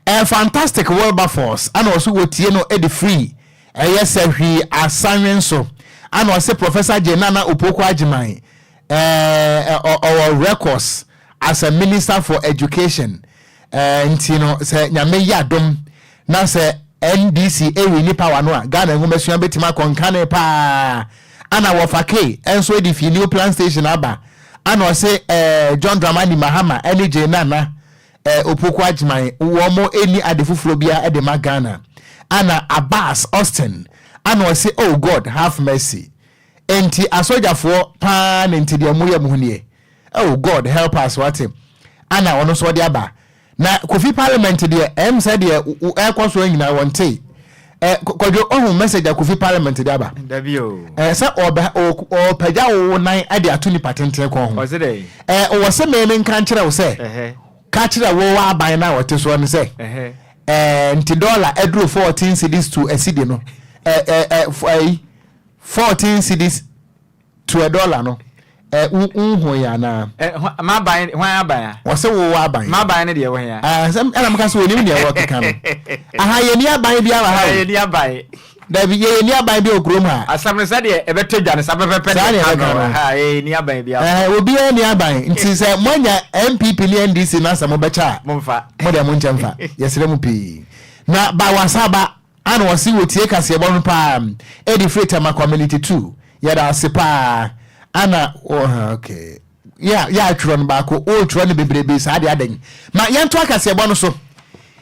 Eh, fantastic Wilberforce ana ɔso wɔtie no de free Ɛyɛ sɛ hwii asan wen so. Ana ɔse Professor Gen Nana Opoku Agyemang eh ɔwɔ records as a minister for education eh nti no sɛ Nyame yɛ adom na sɛ NDC ɛwini power no a Ghana nwomasua bɛtumi akɔ nkane paa Ana wɔfa Kay nso ɛde fii New Plan Station aba Ana ɔse eh John Dramani Mahama ɛne Gen Nana Eh, Opoku Agyman, wɔn ɛnni ade foforɔ biara de ma Ghana. Ana Abbas, Austin, ana ɔse oh God have mercy. Enti asɔgyafoɔ paa ne nte deɛ moyɛ mo ho nie? Oh God help us wate. Ana ɔno nso ɔde aba. Na Kofi Parliament deɛ ɛm sɛ deɛ ɛkɔ soɔ nyinaa wɔntee. Eh, kwadwo ohun message a kofi parliament de aba. Dabi o. Eh, sɛ ɔbɛ ɔpagya wo nan de ato nipa tenten kɔn ho. Ɔse dɛ. Eh, wɔ sɛ mɛmɛ nka nkyerɛ wo sɛ. Ɛhɛ. Ka kyerɛ wo wɔ aban na ɔte soɔ no sɛ. Ɛhɛ. Eh, nti dɔla aduro 14 cedis to asidi no. Eh, eh, eh, fo ayi 14 cedis. To ɛ dɔla no ɛ wo nhu yɛ anaa. Ɛ hwa m'aban no hwan aban a. Wɔse wo wɔ aban. M'aban no deɛ ɛwɔ he a. Ɛ asɛm ɛna mo ka sɛ wɔnim deɛ wɔkeka no ahaa yɛnni aban biara wɔ ha o. Ɛ yɛnni aban. Dabi yɛ yɛnni aban biara wɔ kurom ha. Asɛm no sɛdeɛ ɛbɛtɔ dwa no saa pɛpɛpɛ na ɛka no ahaa yɛ yɛnni aban biara. Ɛ obiara nni aban nti sɛ moanya NPP ne NDC no asɛ mobɛkyɛ a. Momfa. Mo deɛ monkyɛ mfa yɛsrɛ mo pii na ba wasa ba. Ana wɔse wotie kaseɛbɔ no paa Edi firi Tamakwa Miniti tu Yɛda ase paa Ana oh ok yɛ a yɛ a twerɛ no baako oh twerɛ no bebrebee saa deɛ adɛn Ma yɛntoa kaseɛbɔ no so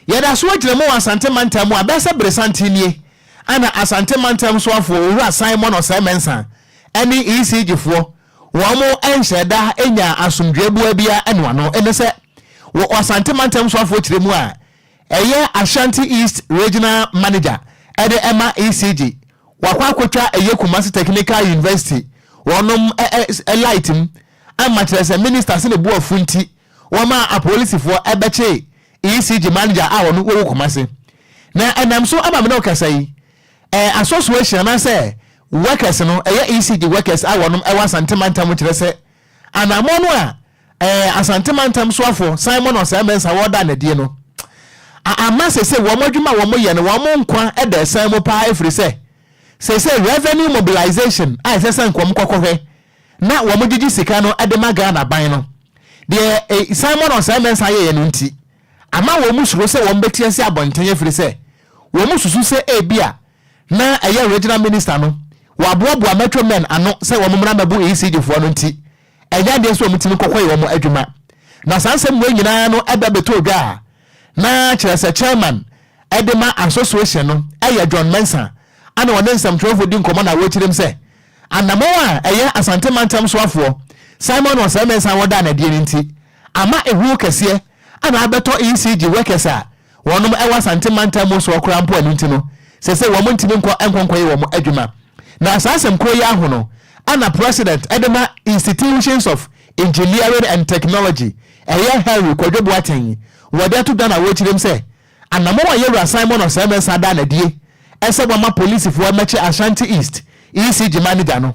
Yɛda so agyina mu wɔ Asante mantam mu Abɛɛ sɛ bere santen nie Ana Asante mantam soafoɔ Owura Simon Osei Mensah ɛne ECG foɔ Wɔn nhyɛ da nyaa asomdwoeɛ boa biara ɛnoa no Ɛne sɛ wɔ Asante mantam soafoɔ tire mu a Ɛyɛ Ashanti East Regional Manager de ma ECG. Wakɔ akɔtwa ɛyɛ Kumasi Technical University wɔnom ɛ ɛ ɛ light mu ama kyerɛ sɛ Minister se ne bo afu nti wɔma apolisifoɔ bɛkyee ECG Manager a ɔno ɔwɔ Kumasi. Na ɛnam so ama me ne wo kasa yi, ɛ ɛ association anaasɛ workers no, ɛyɛ ECG workers a wɔnom wɔ Asante Mantam kyerɛ sɛ anamɔ no a Ɛɛ Asante Mantam soafo Simon Osei-Mensah a wɔdaa no adie no a ama seesei wɔn adwuma a wɔyɛ no wɔn nkwa da asiane mu paa ɛfiri sɛ seesei revenue mobilization a ɛsɛ sɛ nka wɔn kɔkɔ hwɛ na wɔn gyegye sika no de ma Ghana ban no deɛ ɛɛ Simon Osei-Mensah yɛɛ no nti ama wɔn suro sɛ wɔn bɛte asi abɔnten ɛfiri sɛ wɔn susu sɛ ɛbia na ɛyɛ regional minister no wɔaboaboa metro men ano sɛ wɔn mmra mmɛbo ECG foɔ no nti Ɛnyɛ adeɛ sɛ wɔtumi kɔkɔyɛ wɔn adwuma. Na saa nsɛm wei nyinaa no ba bɛtɔɔ dwa a, na kyerɛ sɛ chairman de ma association no yɛ John Mensah a na ɔne nsɛmtwerɛfoɔ di nkɔmmɔ na wɔkyerɛm sɛ anammɔn a ɛyɛ Asante mantam soafoɔ Simon Osei Mensah wɔdaa no adie no nti ama ehuu kɛseɛ a na abɛtɔ ECG workers a Wɔnom wɔ Asante mantam mu nsoɔ koraa mpo ɛno nti no sese wɔn ntimi nkɔ nkɔ nkɔyɛ wɔn adwuma na saa asɛm korɔ yi ara ho no ana President de ma Institutions of Engineering and Technology ɛyɛ Henry Kwadwo Boateng wɔde ato dwa no awokyirem sɛ anamɔn a Yawura Simon Osei Mensah daa no adie sɛ wɔma Polisifoɔ mmɛkye Ashanti East EC Gyima no gya no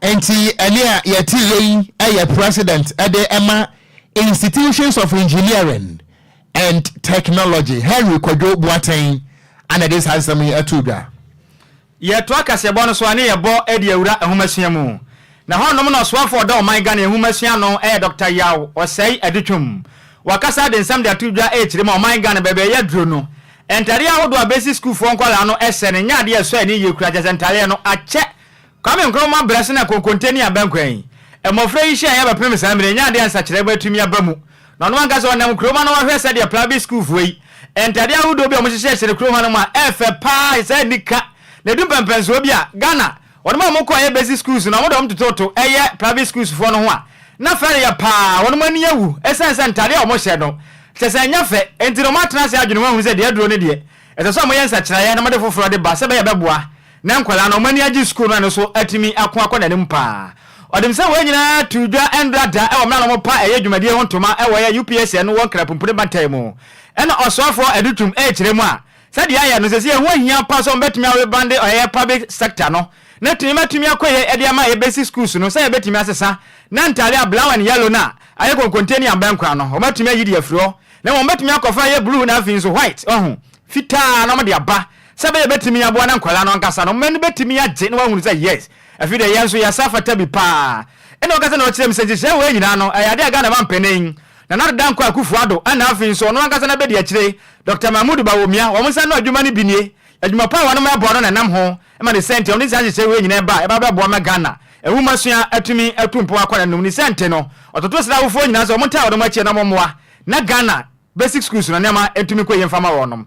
Enti ɛne a yɛte yɛ yi yɛ President de ma Institutions of Engineering and Technology, Henry Kwadwo Boateng na ɛde saa nsɛm yi too dwa. Yɛtoa kaseɛbɔ no so a ne yɛbɔ de awura nhomasua mu. Na hɔnom na ɔsoafo a ɔda ɔman Ghana nhomasua ano yɛ Dɔkta Yaw Ɔsɛe Adutwum. Wakasa de nsɛm de ato dwa ɛrekyerɛ mu a ɔman Ghana baabi a ɛyɛ duro no Ntadeɛ ahodoɔ a basic sukuufoɔ nkwadaa no hyɛ no nyɛ adeɛ a ɛsɔ ani yie koraa, kyerɛ sɛ ntadeɛ no akyɛ. Kwame Nkrumah berɛ so na konkonte ne abankwan yi, mmɔfra yi hyɛeɛ bɛpem saa mmerɛ yi, ɛnyɛ adeɛ a nsakyeraɛ mu atumi aba mu. Na ɔno ankasa ɔnam kurom ha na wahwɛ sɛdeɛ private sukuufoɔ yi ntadeɛ ahodoɔ bi a wɔhyehyɛ hyɛ no kurom hanom a ɛyɛ fɛ pa ara, ɛhyɛ saa anika, na ɛdu mpɛmpɛnsoɔ bi a Ghana Wɔnom a wɔkɔ yɛ basic schools no wɔde wɔn tototo yɛ private schools foɔ no ho a na fɛ reyɛ paa wɔnom ani awu ɛsiane sɛ ntaadeɛ a wɔn hyɛ no kyerɛ sɛ ɛnyɛ fɛ nti no wɔn atena ase adwene ho ahunu sɛ deɛ aduro no deɛ ɛsɛ sɛ wɔyɛ nsakyeraeɛ na wɔde foforɔ de ba sɛ ɛbɛyɛ ɛbɛboa na nkwadaa no wɔn ani agye school no ɛno so atumi ako akɔ nanim paa ɔdem sɛ wei nyinaa too dwa ɛndra da ɛwɔ mmerɛ a na wɔn pa ɛyɛ dwumadie ho ntoma ɛwɔ yɛ UPSN wɔ nkrapumpuni bantan mu ɛna ɔsoafoɔ adutwum ɛrekyerɛ mu a Sɛdeɛ ayɛ no seesei ɛho ahia pa sɛ wɔbɛtumi arebande ɔyɛyɛ public sector no na tumi matumi akɔ yie ɛde ama yɛ basic schools no sɛ yɛbɛtumi asesa na ntaade a blau and yellow no a ayɛ konkonte ne ambɛ nkora no wɔn atumi ayi de afiri hɔ na wɔn bɛtumi akɔfa yɛ blue na afei nso white wahu fitaa na wɔn de aba sɛ bɛyɛ bɛtumi aboa na nkwadaa no ankasa no wɔn ani bɛtumi agye na wɔahunu sɛ yes afei deɛ yɛn nso yɛsa fata bi paa ɛna ɔkasa na ɔkyerɛ mu sɛ nhyehyɛɛ wei nyinaa no ɛyɛ adeɛ a Ghana mampanin Nana Addo Dankwa Akufo-Addo ɛna afei nso ɔno ankasa n'abedi akyire Dɔkta Mahmood Bawumia wɔn nsa ano adwuma no bi nie. Adwuma pa a wɔnom ɛboa no na ɛnam ho ma ne sɛnti a ɔde saa nhyehyɛe wei nyinaa ba a ɛba bɛboa ma Ghana nwomasua atumi atu mpɔn akɔ n'anom. Ne sɛnti no ɔtoto srɛ awofoɔ nyinaa sɛ wɔntaa wɔnom akyi na wɔmmoa na Ghana basic schools no nneɛma ntumi nkɔ yie mfa ma wɔnom.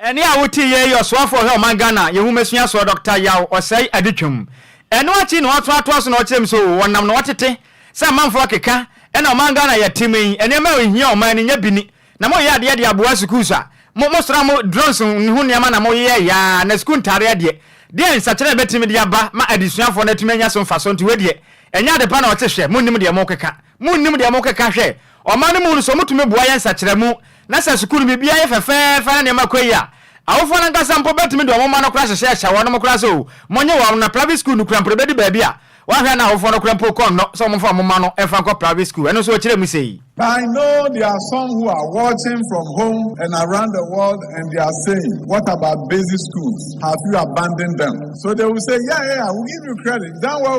Ɛnne a wote yei yɛ ɔsoafoɔ ɔhwɛ ɔman Ghana yɛn nwoma sua soɔ Dɔkta Yaw Ɔsɛe Adetwam. Ɛno akyi na wɔasan atoa so na wɔkyerɛ mu sɛ oo wɔnam na wɔtete sɛ amanfoɔ keka ɛna ɔman Ghana a yɛtem yi nneɛma a ɛhia ɔman no nya bi ni na moyɛ adeɛ de aboa sukuus a mo mosra mo drones ho nneɛma na moyeyɛ yaa na sukuu ntaadeɛ deɛ deɛn nsakyera na ɛbɛtumi de aba ma adesuafoɔ no atumi anya so mfasoɔ nti wei deɛ ɛnyɛ adepa na wɔte hwɛ monnim deɛ mokeka monnim deɛ mokeka hwɛ Ɔman no mu no, sɛ wɔtumi boa yɛ nsakyeramu, na sɛ sukuu no biribiara yɛ fɛfɛɛfɛ na nneɛma kɔ yie a, awofo no ankasa mpo bɛtumi de wɔn mma no kora hyehyɛ ahyɛ wɔnom koraa sɛ oo, monnye wɔn, na private sukuu no kora mpo ɛbɛdu baabi a, woahwɛ a na awofo no kora mpo kɔ nnɔ sɛ wɔmfa wɔn mma no mfa nkɔ private sukuu. Ɛno nso wɔkyerɛ mu sei. I know there are some who are watching from home and around the world and they are saying, what about basic schools? Have you abandoned them? So they will say, yeah, yeah, yeah, we give you credit. You've done well.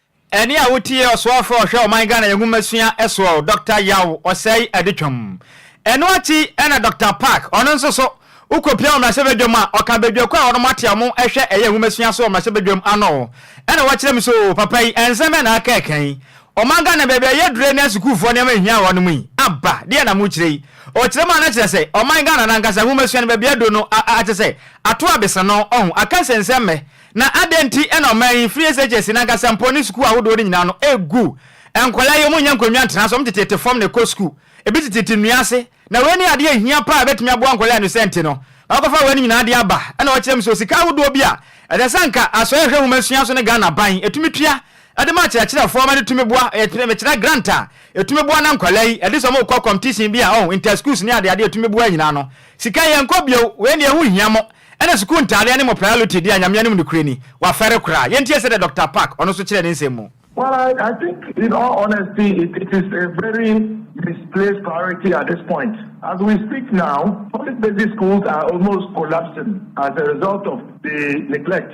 Ɛnne a wo tie ɔsoafo a ɔhwɛ ɔman Ghana yɛ nwomasua soɔ Doctor Yaw Osei Adutwam. Ɛno akyi na Doctor Park ɔno nso so wo kɔ pia wɔ mmarahyɛbadwam a ɔka badwako a wɔnom ate a wɔn ɛhwɛ ɛyɛ nwomasua so wɔ mmarahyɛbadwam ano ɛna wakyerɛ me sɛ oo papa yi ɛnsɛm bɛn na aka ɛka yi ɔman Ghana baabi a yɛ dure ne sukuufoɔ nneɛma ɛhia wɔnom yi aba deɛ na mo kyerɛ yi ɔkyerɛ mu a na kyerɛ sɛ ɔman Ghana no ankasa nwomasua no baabi aduro no a a kyɛ sɛ ato abesano ɔho aka nsɛnsɛmmɛ Na adɛn nti na ɔman yi, free SHS no ankasa mpo ne sukuu ahodoɔ no nyinaa no, ɛgu? Nkwadaa yi, wɔnnya nkonnwa ntena so, wɔtete tete fam na ɛkɔ sukuu. Ebi tetete nnua ase. Na wei ne adeɛ a ɛhia paa a ɛbɛtumi aboa nkwadaa no sɛ nti no, wɔakɔfa wei no nyinaa de aba. Ɛna ɔkyerɛ me sɛ osika ahodoɔ bi a ɛsɛ sɛ anka Asoɛe Ahwɛ Nwoma Sua so ne Ghana aban ɛtumi tua de ma akyerɛkyerɛfoɔ ma no tumi boa, ɛyɛ mekyerɛ grant a ɛtumi boa na nkwadaa yi ɛde sɛ wɔn rekɔ competition bi a, ɔho, inter-schools ne adeade a ɛtumi boa nyinaa no, sika yɛnkɔ bio, wei deɛ ɛho nhia mo. Ɛna sukuu ntaadeɛ ne mo priority deɛ Nyame anim nokorɛ ni, wafɛre koraa. Yɛntie sɛdeɛ Doctor Park ɔno nso kyerɛɛ ne nsɛm mu. Well I I think in all honesty it it is a very misplaced priority at this point. As we speak now, public basic schools are almost collapsing as a result of the neglect.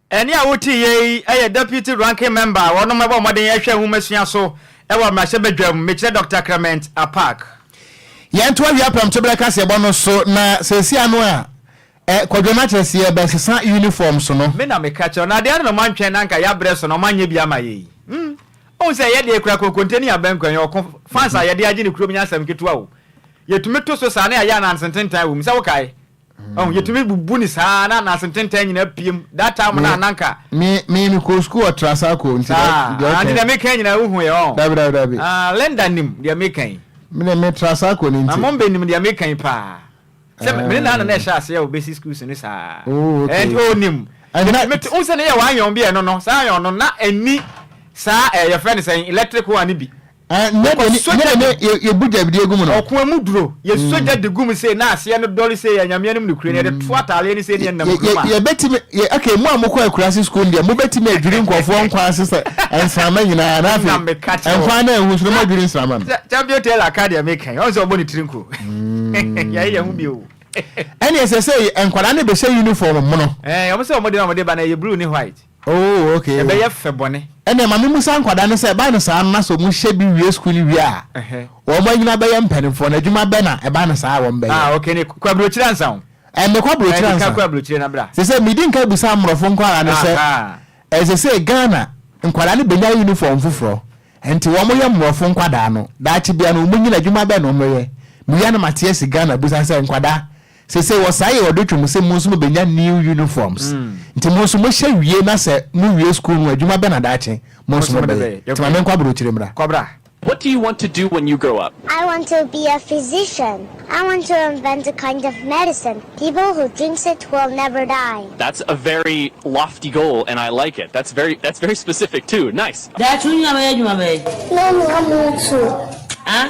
Ɛnne a wotiiɛ yi yɛ Deputy Ranking Member a wɔnom bɔ mmɔden hwɛ nhomasua so wɔ mmarahyɛbadwam, Mekyerɛ Doctor Clement Apaak. Yɛn to awia prɛmtoberɛ kaseɛbɔ no so na seesei ano a ɛ kwadwo no akyerɛ sɛ yɛbɛ sesa uniform so no. Me na me ka kyerɛ wo no adeɛ ano na moantwɛn na anka yɛabrɛ so na ɔmo anyɛ bi ama yɛn yi mm ohu sɛ ɛyɛ deɛ kura konkonte ne abanku ɛnyɛ ɔko fans a yɛde agye ne kurom nyɛ asɛm ketewa o yɛtumi to so saa na yɛayɛ ananse ntentan wɔ mu sɛ wokae ɔn yɛtumi bubu ne saa na anase ntentan nyinaa piem that time na ananka me me me kɔ school ɔtra saa kɔ nti deɛ ɔkɛ deɛ meka nyinaa wohu yɛ ɔn dabi dabi dabi ah Linda nim deɛ meka yi me ne me tra saa kɔ ne nti na mom bɛ nim deɛ meka yi paa sɛ me ne naana na ɛhyɛ ase a obesi school so ne saa oh okay and oh nim mete wo sɛ ne yɛ wayɔn bi ɛno no saa yɔn no na ɛni saa ɛyɛ fɛ ne sɛ electric one bi Ɔkɔsɔ gya de yɛbu dwabedeɛ gu mu no. Ɔko mu duro, yɛsɔ gya de gu mu sei na aseɛ no dɔre sei, Anyame anom nokorɛ ni, yɛde to ataareɛ no sei na yɛnam kurom a. Yɛbɛtumi, okay, mo a mokɔ akurase school no deɛ, mobɛtumi adwiri nkurɔfoɔ nkwa ase sɛ nsramma nyinaa, na afei nkwa no anhu so na moadwiri nsramma no. Champion Taylor ka deɛ meka yi, ɔhu sɛ ɔbɔ ne tiri nko. Yɛayɛ yɛn ho bio o. Ɛne ɛsɛ sɛ nkwadaa no bɛhyɛ uniform mono. Ɛɛ, wɔn sɛ wɔn de na wɔn de ba na ɛyɛ blue ne white. Oh ok. Ɛbɛyɛ fɛ bɔne. Ɛneɛ ma memusa nkwadaa no sɛ ɛba no saa no na sɛ ɔmo hyɛ bi wie sukuu no wie a ɔmo anyini abɛyɛ mpaninfoɔ no adwuma bɛ na ɛba no saa a wɔn bɛyɛ? Ah ok ne kɔ abrokyire ansa ho. Ɛnde kɔ abrokyire ansa. Ɛnde kɔ abrokyire na bra. Sese medi nka bisa amrɔfo nkwadaa no sɛ ɛsese Ghana nkwadaa no benya uniform foforɔ nti wɔn yɛ mmrɔfo nkwadaa no daakye bia no wɔn nyini adwuma bɛ na wɔn yɛ mewia na mate asi Ghana busa sɛ nkwadaa Sesei wɔsan yɛ ɔde twam se mo nso mobenya new uniforms. Nti mo nso mohyɛ wie na sɛ mo wie school no a adwuma bɛn na daakye mo nso mobɛyɛ? Nti ma menkɔ aburokyire mmra. What do you want to do when you grow up? I want to be a physician. I want to invent a kind of medicine people who drinks it will never die. That's a very lofty goal and I like it. That's very that's very specific too. Nice. Daakye wo nyina bɛyɛ adwuma bɛn? Mɛnoa mutuo. Ah?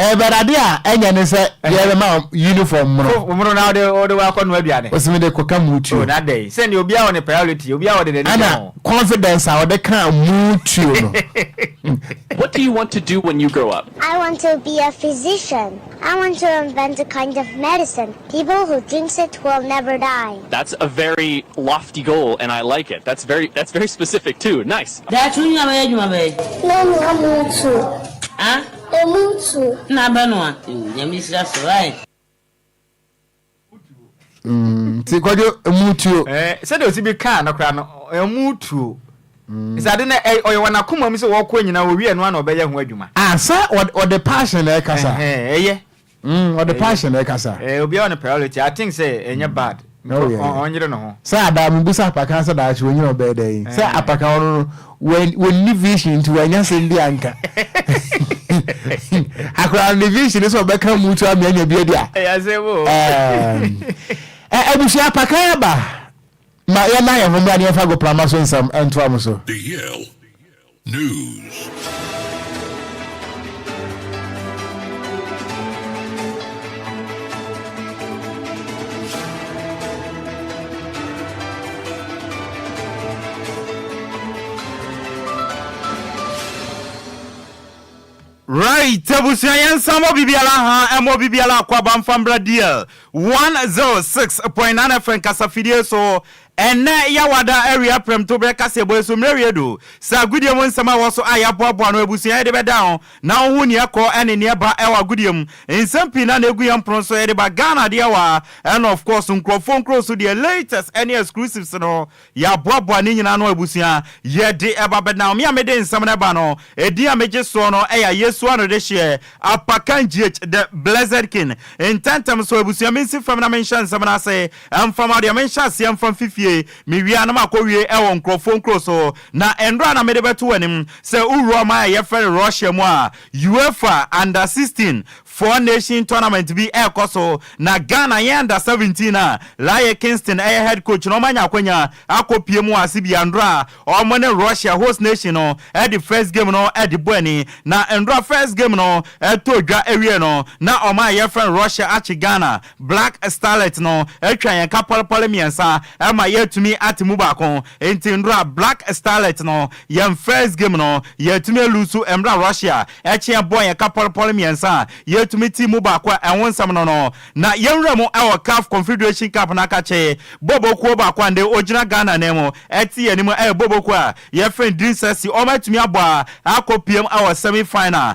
Ɛbɛdade a ɛnyɛ ne sɛ yɛbɛma uniform mono. Ko mono na wode wode wakɔ no aduane. Ɔsi me de kɔka mutuo. Oh na dɛn sɛ ne obiara wɔ ne priority obiara wɔde n'ani kyɛ ho. Ɛna confidence a ɔde ka mutuo no. What do you want to do when you grow up? I want to be a physician. I want to invent a kind of medicine people who drinks it will never die. That's a very lofty goal and I like it. That's very that's very specific too. Nice. Daakye wo nyina bɛyɛ adwuma bɛn? Mɛnoa mutuo. Ah? Emu ntu. Na bɛ no a. Ew nyame nhyira so right. Mm, ti kwadwo emu tuo. Eh, sɛ de osi bi kaa no kora no, emu tuo. Mm. Sɛ ade na ɔyɛ wɔn akoma mu sɛ wɔkɔ nyina owie no ana ɔbɛyɛ ho adwuma. Ah, sɛ ɔde passion na ɛkasa. Eh, ɛyɛ. Mm ɔde passion na ɛkasa. Eh obiara ne priority I think sɛ ɛnyɛ mm. bad. Oh yeah. Ɔn ɔnyere ne ho. Sɛ adaa mo bisa apakan sɛ daakye wɔnyina ɔbɛyɛ dɛ yi. Sɛ apakan ɔno no wɔnni vision nti wɔanya sɛm bi anka. Akora ne vision sɛ ɔbɛka mu tu amia nya bi adi a. Ɛyɛ sɛ wo. Abusua apakan aba. Ma yɛn na yɛn ho mmra ne yɛn fa go prama so nsɛm ntoa mo so. Right abusua yɛn nsa mmɔ bibiara ha ɛmmɔ bibiara akɔ aba mfa mbra dial one zero six point nine fm kasafidie so Ɛnnɛ Yawada awia prɛmtoberɛ kaseɛbɔ yi so mmerɛ wie do. Sɛ agodie mu nsɛm a ɛwɔ so a yɛaboaboa ano abusua a yɛde bɛda ho na wohu neɛ ɛkɔ ne neɛ ɛba wɔ agodie mu nsɛm pii na na ɛgu yɛn pono so yɛde ba Ghana adeɛ hɔ a ɛna of course nkurɔfoɔ nkuro so deɛ latest ne exclusives no yɛaboaboa ne nyinaa ano abusua yɛde ba bɛda ho me a mede nsɛm no ba no ɛdin a megye soɔ no ɛyɛ a yɛsua no de hyeɛ Apakan GH the blessed king ntɛntɛm so abusua mensi fam na menhyɛ nsɛm no ase Ɛmfa ma deɛ menhyɛ aseɛ mfa mfi fie, mewie a na makɔwie wɔ nkurɔfoɔ nkuro so. Na nnuro a na mede bɛto w'anim, sɛ wowura ɔman a yɛfrɛ no Russia mu a, UEFA Under 16 foɔ Nation Tournament bi rekɔ so, na Ghana yɛn Under 17 a Laryea Kingston yɛ head coach no wɔanya akwanya akɔpue mu wɔ ase bi a nnuro a wɔn ne Russia host nation no de first game no de bɔ ani. Na nnuro a first game no tɔɔ dwa wieɛ no, na ɔman a yɛfrɛ no Russia akye Ghana. Black Starlet no atwa yɛn ka pɔlepɔle mmiɛnsa ma yɛatumi ate mu baako. Enti nnora a Black Starlet no, yɛn first game no, yɛatumi aluusu mmerɛ a Russia kyeɛ bɔɔ yɛn ka pɔlepɔle mmiɛnsa a yɛatumi tee mu baako a ɛho nsɛm no no. Na yɛnwura mu wɔ CAF Confederation Cup no akakye bɔbɔ kuo baako a nnɛ ɔgyina Ghana nan mu te yɛn anim a ɛyɛ bɔbɔ kuo a yɛfrɛ no Dream Sexy. Wɔatumi abɔ a akɔ piam wɔ semi final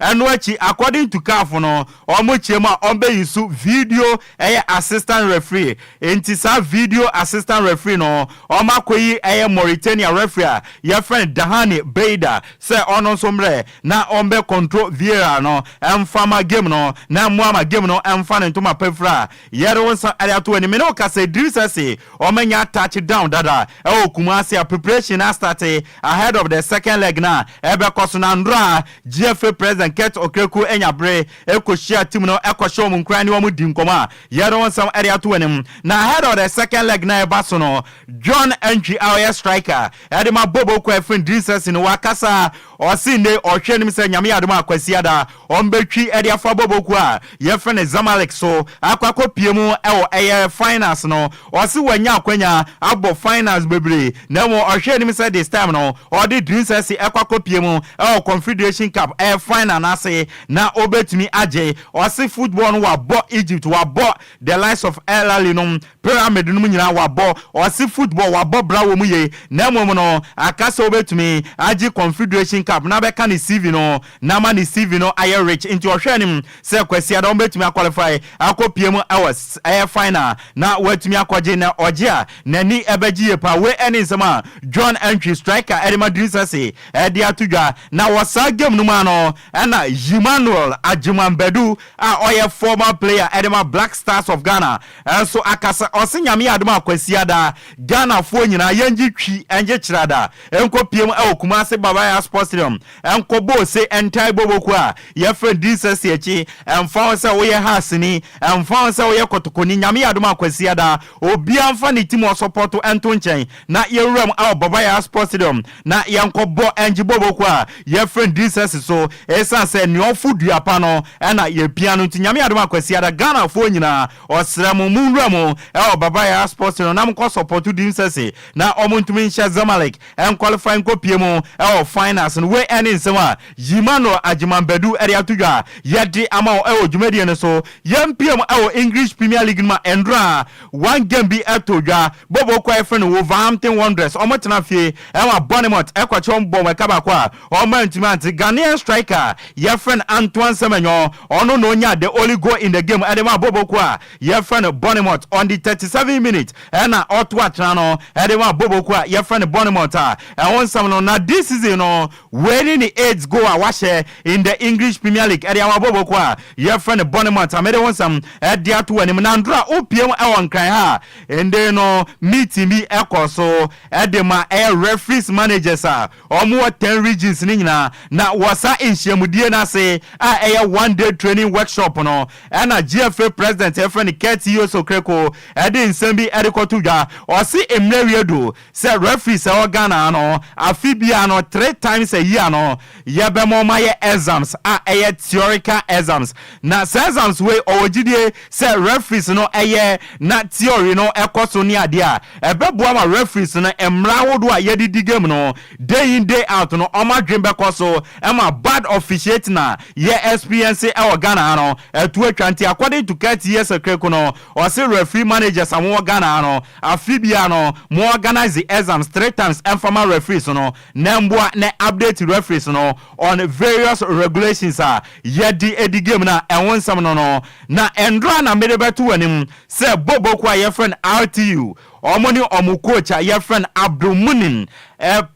Ɛno akyi, according to caf no, wɔn kyeɛ mu a wɔbɛyi so video ɛyɛ assistant referee, enti saa video assistant referee no wɔn akɔyi ɛyɛ Mauritania referee a yɛfrɛ no Dahane Beida sɛ ɔno nso mmrɛ na ɔbɛ control VAR no mfa ma game no na mmoa ma game no mfa ne ntoma pa firi a yɛde wo nsa ɛde ato w'anim. Me ne wo kasa Idris Essey, wɔanya touch down dada ɛwɔ Kumasi a preparation no astate ahead of the second leg no a ɛbɛkɔ so na nnora Gyefre President Kurt Okraku anya bere kohyia team no kɔhyɛ wɔn nkuran ne wɔn di nkɔmmɔ a yɛde wɔn nsɛm de ato wɔn anim. Na ahead of the second leg na ɛba so no, John Antwi a ɔyɛ striker de ma Bobo Kwafin Dinsasi no wakasa a ɔse nnei ɔhwɛ anim sɛ Nyame yɛ adom a Kwasiada ɔmbɛtwi de afa Bobo kuo a yɛfrɛ no Zamalek so akɔ akɔpie mu wɔ ɛyɛ finals no Ɔse wanya akwanya abɔ finals bebree na mmom ɔhwɛ anim sɛ this time no ɔde Dreams FC kɔ akɔpie mu wɔ Confederation Cup final no ase na ɔbɛtumi agye. Ɔse football no wabɔ Egypt, wabɔ the likes of El Ahly nom, Pyramid nom nyinaa wabɔ. Ɔse football wabɔ bra wɔ mu yie na mmom no aka sɛ ɔbɛtumi agye Confederation Cup na bɛka ne CV no na ama ne CV no ayɛ rich nti ɔhwɛ anim sɛ Kwasiada ɔbɛtumi a qualify akɔ pie mu wɔ ɛyɛ final na watumi akɔgye na ɔgye a n'ani bɛgye yie paa wei ɛne nsɛm a John Antwi striker ɛde ma Dream Sɛse ɛde ato dwa na wɔ saa game no mu a no ɛna Ymanuel Agyeman Badu a ɔyɛ former player ɛde ma Black Stars of Ghana nso akasa ɔse Nyame yɛ adom a Kwasiada Ghanafoɔ nyinaa yɛngye twi ɛngye kyerada ɛnkɔ pie mu wɔ Kumasi Babayas Sports Stadium Ɛnkɔbɔ ose ntae bɔbɔku a yɛfrɛ no Dinsase akyi, ɛmfa ho sɛ woyɛ Hasni, ɛmfa ho sɛ woyɛ Kɔtɔkɔni, Nyame yɛ adom a Kwasiada, obiara mfa ne ti mu ɔsɔpɔto nto nkyɛn na yɛnwura mu wɔ Baba Yaa's Sports Stadium na yɛnkɔbɔ Angie bɔbɔku a yɛfrɛ no Dinsase so. Esiane sɛ nea ɔfo dua pa no na yɛpia no nti, Nyame yɛ adom a Kwasiada, Ghanafoɔ nyinaa, ɔsrɛ mo, monwura mu wɔ Baba Yaa's Sports Stadium na monkɔ sɔpɔto Dinsase na wɔntumi nhyɛ Zamalek. ɛnkwalifai nkɔpue mu wɔ finals no. Wei ne nsɛm a Yimano Agyemang-Badu de ato dwa a yɛde ama wo wɔ dwumadie no so. Yɛmpiam wɔ English Premier League no mu a nnora one game bi too dwa. Bobo kɔ a yɛfrɛ no Wolverhampton Wanderers, wɔtena fie ma Bournemouth ɛkɔkye wɔn bɔɔ wɔn ɛka baako a wɔantumi ante Ghanaian striker a yɛfrɛ no Antoine Semenyo. Ɔno na ɔnyaa the only goal in the game de maa Bobo kɔ a Yɛfrɛ no Bournemouth on the thirty seven minute ɛna ɔto atena no ɛde ma Bobo kuo a yɛfrɛ no Bournemouth a ɛho nsɛm no na this season no wei ne ne eighth goal a wahyɛ in the English Premier League ɛde ama Bobo kuo a yɛfrɛ no Bournemouth a mede ho nsɛm ɛde ato w'anim Nandora wopie mu ɛwɔ Nkran ha a ɛnde no meeting bi ɛkɔ so ɛde ma ɛyɛ referees managers a Wɔwɔ ten regions no nyinaa na wɔ saa nhyiamudie no ase a ɛyɛ one day training workshop no ɛna GFA president a yɛfrɛ no Kurt Yos Okereko de nsɛm bi de kɔto dwa. Ɔse mmerɛ wie adu sɛ referees a ɛwɔ Ghana ha no afe biara no three times a year no yɛbɛma wɔn ayɛ exams a ɛyɛ theorical exams na saa exams wei ɔwɔ gyidie Sɛ referees no yɛ na theory no kɔ so ne adeɛ a, ɛbɛboa ma referees no mmara ahodoɔ a yɛde di game no day in day out no wɔn adwene bɛkɔ so ma bad officiating a yɛ experience wɔ Ghana ha no atu atwa. Nti according to Kurt Yesekreku no, ɔse referee managers a wɔwɔ Ghana ha no, afe biara no mo organise exams three times mfa ma referees no na mmoa na update referees no on various regulations a yɛde di game no a ɛho nsɛm no no na nnora a na mede bɛto w'anim sɛ Bobo kuo a yɛfrɛ no RTU wɔn ne wɔn coach a yɛfrɛ no Abdulmunim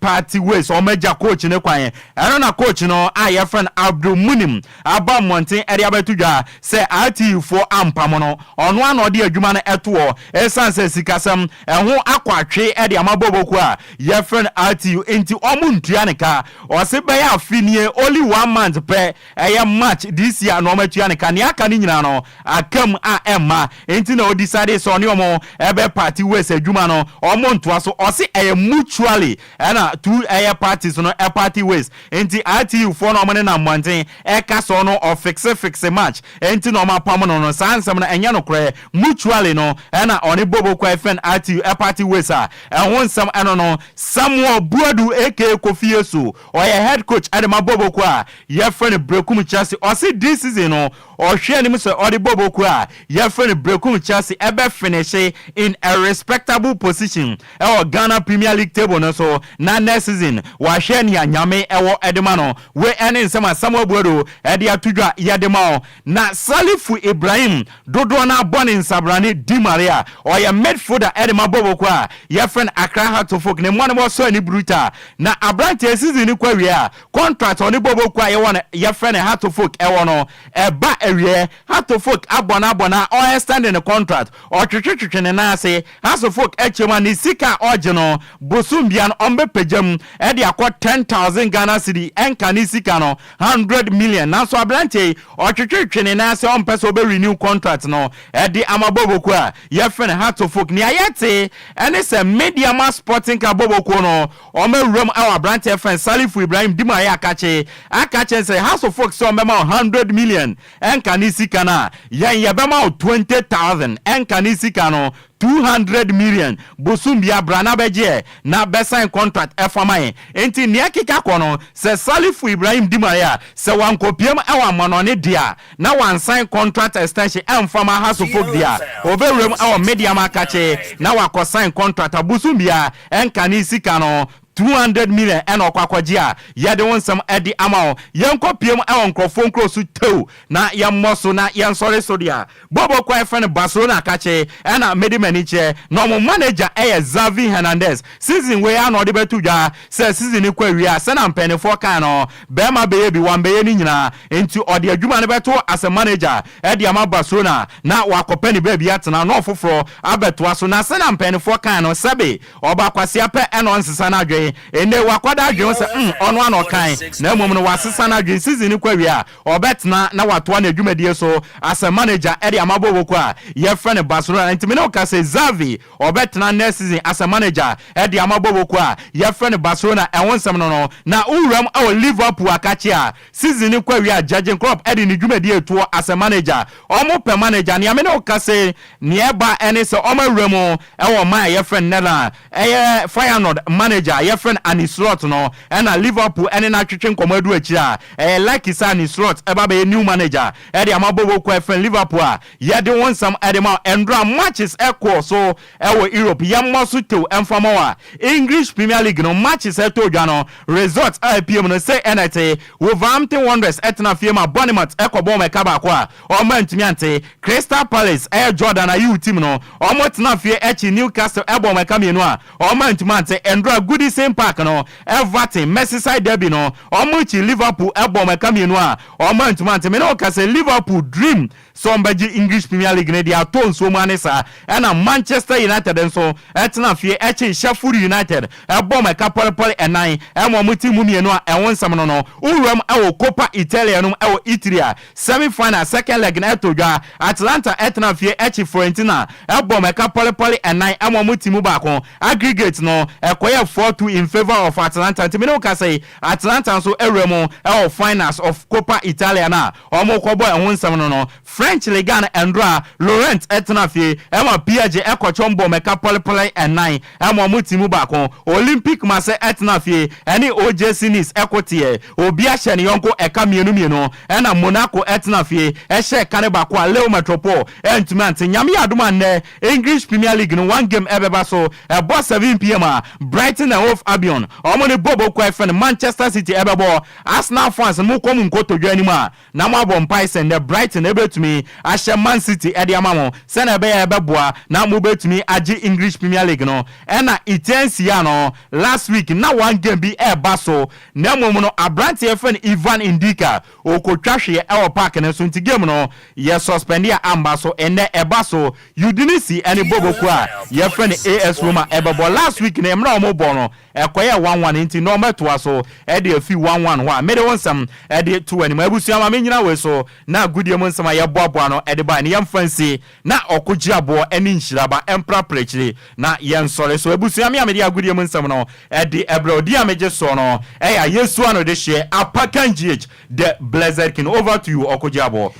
party ways wɔn agya coach no kwan ɛno na coach no a yɛfrɛ no Abdulmunim aba mmɔnten de abɛto dwa sɛ RTU foɔ ampamo no ɔno a na ɔde adwuma no ɛtoɔ ɛsiane sɛ sikasɛm ɛho akɔ atwe de ama Bobo kuo a yɛfrɛ no RTU nti wɔn ntua ne ka Ɔse bɛyɛ afe nie only one month pɛ ɛyɛ March this year na ɔma tua ne ka nea aka no nyinaa no aka mu a ɛmma nti na ɔdecidee sɛ ɔne ɔmo bɛ party ways adwuma no ɔmo ntoa so ɔse ɛyɛ mutually ɛna two ɛyɛ parties no party ways nti RTU foɔ no ɔmo nenam mmɔnten ɛka sɛ ɔno ɔfixe fixe March nti na ɔmo apamo no no saa nsɛm no ɛnyɛ nokorɛ mutually no ɛna ɔne Bobo Kwai Fɛn RTU party ways a ɛho nsɛm ɛno no Samuel Boadu aka Kofi Yesu, ɔyɛ head coach de ma Bobo kuo a yɛfrɛ no Berekum Chelsea. Ɔse this season no ɔhwɛ anim sɛ ɔde Bobo kuo a yɛfrɛ no Berekum Chelsea ɛbɛ finishe in a respectable position wɔ Ghana Premier League table no so na next season wahwɛ nea Nyame wɔ de ma no. Wei ne nsɛm a Samuel Boadu de ato dwa yɛde ma wo. Na Salifu Ibrahim Dodoɔ no ara bɔ ne nsabrane di mare a ɔyɛ midfielder de ma Boboko a yɛfrɛ no Accra Heart of Oak ne mmoa no ma ɔsɔ ani bruta. Na aberanteɛ yi season no kɔ awieɛ a contract a ɔne Boboko a yɛwɔ no yɛfrɛ no Heart of Oak wɔ no ɛba awieɛ. Heart of Oak abɔ no abɔ no a ɔextend ne contract, ɔtwetwetwetwe ne nan ase, Heart of Oak kyɛ mu a ne sika a ɔgye no bosom biara no ɔbɛpagya mu de akɔ ten thousand Ghana cedi ɛnka ne sika no hundred million nanso aberanteɛ yi ɔtwetwetwe ne nan sɛ ɔmpɛ sɛ ɔbɛ renew contract no ɛde ama Bobo kuo a yɛfrɛ no Hato Folk nea yɛte ɛne sɛ Medeama Sporting Club Bobo kuo no wɔn awuram ɛwɔ aberanteɛ yɛfrɛ no Salifu Ibrahim di mu ayɛ akakye aka kyerɛ no sɛ Hato Folk sɛ wɔbɛma wo hundred million ɛnka ne sika no a yɛn yɛbɛma wo twenty thousand ɛnka ne sika no Two hundred million bosoom bia bra na bɛgye yɛ na bɛ sign contract ɛfa ma yɛn nti nea ɛkeka kɔ no sɛ Salifu Ibrahim di ma yɛ a sɛ wankɔpiam ɛwɔ amanɔne deɛ a na wansign contract extension ɛnfa ma Hasso folk deɛ a ɔbɛwuram ɛwɔ Medeama Kakye na wakɔ sign contract a bosoom biara ɛnkanee sika no Two hundred million ɛna ɔkɔ akɔgye a yɛde wo nsɛm ɛde ama wo yɛnkɔ pie mu ɛwɔ nkorɔfoɔ nkuro so too na yɛmmɔ so na yɛnsɔre so dea bɔbɔ kɔ a yɛfrɛ no Barcelona kakye ɛna mede m'ani kyerɛ na ɔmo manager ɛyɛ Xavi Hernandez season wei ara na ɔde bɛto dwa sɛ season no kɔ awie a sɛnea mpanyinifoɔ kae no bɛɛma bɛyɛ bi wambɛyɛ ne nyinaa nti ɔde adwuma no bɛto as a manager ɛde ama Barcelona na wakɔpɛ ne baabi atena na ɔfoforɔ abɛtoa so na sɛnea mpanyinifoɔ kae no sɛbe Ɔbɔ akwasia pɛ na ɔnsesa n'adwene. Ɛnnɛ yi, wakɔda adwene ho sɛ mm, ɔno ara na ɔkae, na mmom no, wasesa n'adwene. Season no kɔ awiei a, ɔbɛtena na watoa n'adwumadie so asɛ manager de ama bɔɔlbɔkuo a wɔfrɛ no Barcelona. Enti me ne wo ka sɛ, Xavi, ɔbɛtena next season asɛ manager de ama bɔɔlbɔkuo a wɔfrɛ no Barcelona. Ɛho nsɛm no no, na wo wuram wɔ Liverpool a ka kye a. Season no kɔ awie a Jurgen Klopp de ne dwumadi retuo asɛ manager. Wɔpɛ manager. Nea me ne wo ka se, nea ɛba ɛne sɛ wɔawura mu wɔ ɔman a yɛfrɛ no Netherlands. Ɛyɛ Feyenoord manager a yɛfrɛ no Arne Slot no na Liverpool ne no atwetwe nkɔmmɔ adu akyire a ɛyɛ likely sɛ Arne Slot bɛba abɛyɛ new manager de ama Bobo Kɔ a yɛfrɛ no Liverpool a yɛde wo nsɛm de ma wo. Ɛnora matches kɔɔ so. Ɛwɔ Europe yɛmmɔ so tew ɛmfa mma wo a, English Premier League no matches ɛtɔ dwa no results a apue mu no sei ɛna ɛte, Wolverhampton Wanderers ɛtena fie ma Bournemouth ɛkɔbɔ wɔn ɛka baako a wɔn antumi ante, Crystal Palace ɛyɛ Jordan Ayew team no wɔn tena fie ɛkye Newcastle ɛbɔ wɔn ɛka mmienu a wɔn antumi ante, Ndura Goodison Park no Everton Merseyside Derby no wɔn kye Liverpool ɛbɔ wɔn ɛka mmienu a wɔn antumi ante, me ne wo ka sɛ Liverpool dream sɛ wɔbɛgye English Premier League no de atɔ nsuo mu ane saa ɛna Manchester United nso tena fie kye Sheffield United bɔ ma ɛka pɔrepɔre ɛnan ma wɔn ti mu mmienu a ɛho nsɛm no no wuram wɔ Coppa Italia no mu wɔ Italy a semi final second leg no to dwa Atalanta tena fie kye Fiorentina bɔ ma ɛka pɔrepɔre ɛnan ma wɔn ti mu baako aggregate no kɔyɛ four two in favour of Atalanta nti me ne wo kasa yi Atalanta nso wura mu wɔ finals of Coppa Italia no a Wɔrekɔbɔ ɛho nsɛm no no, French Ligue 1 Andrà Laurent tenaa fie ma Piaget kɔ twam bɔɔ mmɛka pɔlepɔle nnan ma wɔn ti mu baako. Olympique Marseille tenaa fie ne OGC Nice ko teɛɛ. Obiara hyɛɛ ne yɔnko ɛka mmienu mmienu ɛna Monaco tenaa fie hyɛɛ ɛka no baako a Leo Metropole antumi ante. Nyame yɛ adom a nnɛ English Premier League no one game ɛbɛba so. Ɛbɔ 7 pm a Brighton and Hove Albion wɔn ne Bob Okuai fɛn Manchester City ɛbɛbɔ Arsenal fans mo kɔ mo nkotodwe anim a na mo abɔ mpae sɛ nnɛ Brighton bɛtumi ahyɛ Man City de ama mo sɛnea ɛbɛyɛ a ɛbɛboa na mo bɛtumi agye English Premier League no ɛna etia nsia no last week na one game bi ɛreba so na mmom no abranteɛ yɛfrɛ no Ivan Ndika ɔkɔtwa hweɛ ɛwɔ park no so nti game no yɛ suspend a amba so ɛnnɛ ɛba so Udinese ɛne Boboku a yɛfrɛ no AS Roma ɛbɛbɔ last week no mmerɛ a wɔbɔ no Ɛkɔyɛ a one one nti nɔɔma ɛtoa so ɛde afi one one hɔ a mede wo nsɛm ɛde to w'anim. Abusua ma me nnyina wei so na agodie mu nsɛm a yɛboaboa ano ɛde baeɛ no yɛmfa nsi na ɔko gye aboɔ ɛne nhyira ba ɛmprapra akyiri na yɛnsɔre. So abusua me a mede agodie mu nsɛm no ɛde ɛbrɛ wo din a megye soɔ no ɛyɛ Ayesua Anodehyeɛ Apakan GH the Blessed King. Over to you Ɔko gye aboɔ.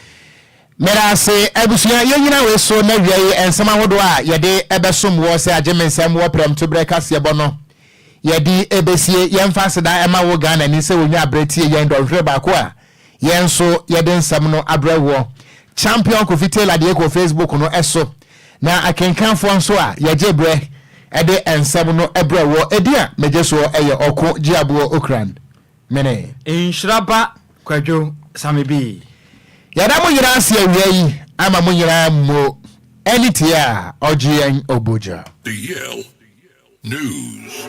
Meda ase abusua, yɛnyina wei so na wiɛi nsɛm ahodoɔ a yɛde bɛsom woɔ sɛ agyemensɛm wɔ prɛmto berɛ kaseɛbɔ no yɛde bɛsie. Yɛmfa aseda ma wo Ghanani sɛ wɔnya berɛ tie yɛn dɔnhwere baako a yɛn nso yɛde nsɛm no abrɛ woɔ. Champion Kofi Taylor deɛ kɔ Facebook no so na akenkanfoɔ nso a yɛgye berɛ de nsɛm no brɛ woɔ. Ɛdin a megye soɔ yɛ Ɔko Gyeaboɔ Okuran. Mene. Nhyira ba Kwadwo Samebii. Yɛda mo nyinaa ase awia yi ama mo nyinaa mo ani tiaa Ɔgyeɛn Obogya. Eyel News.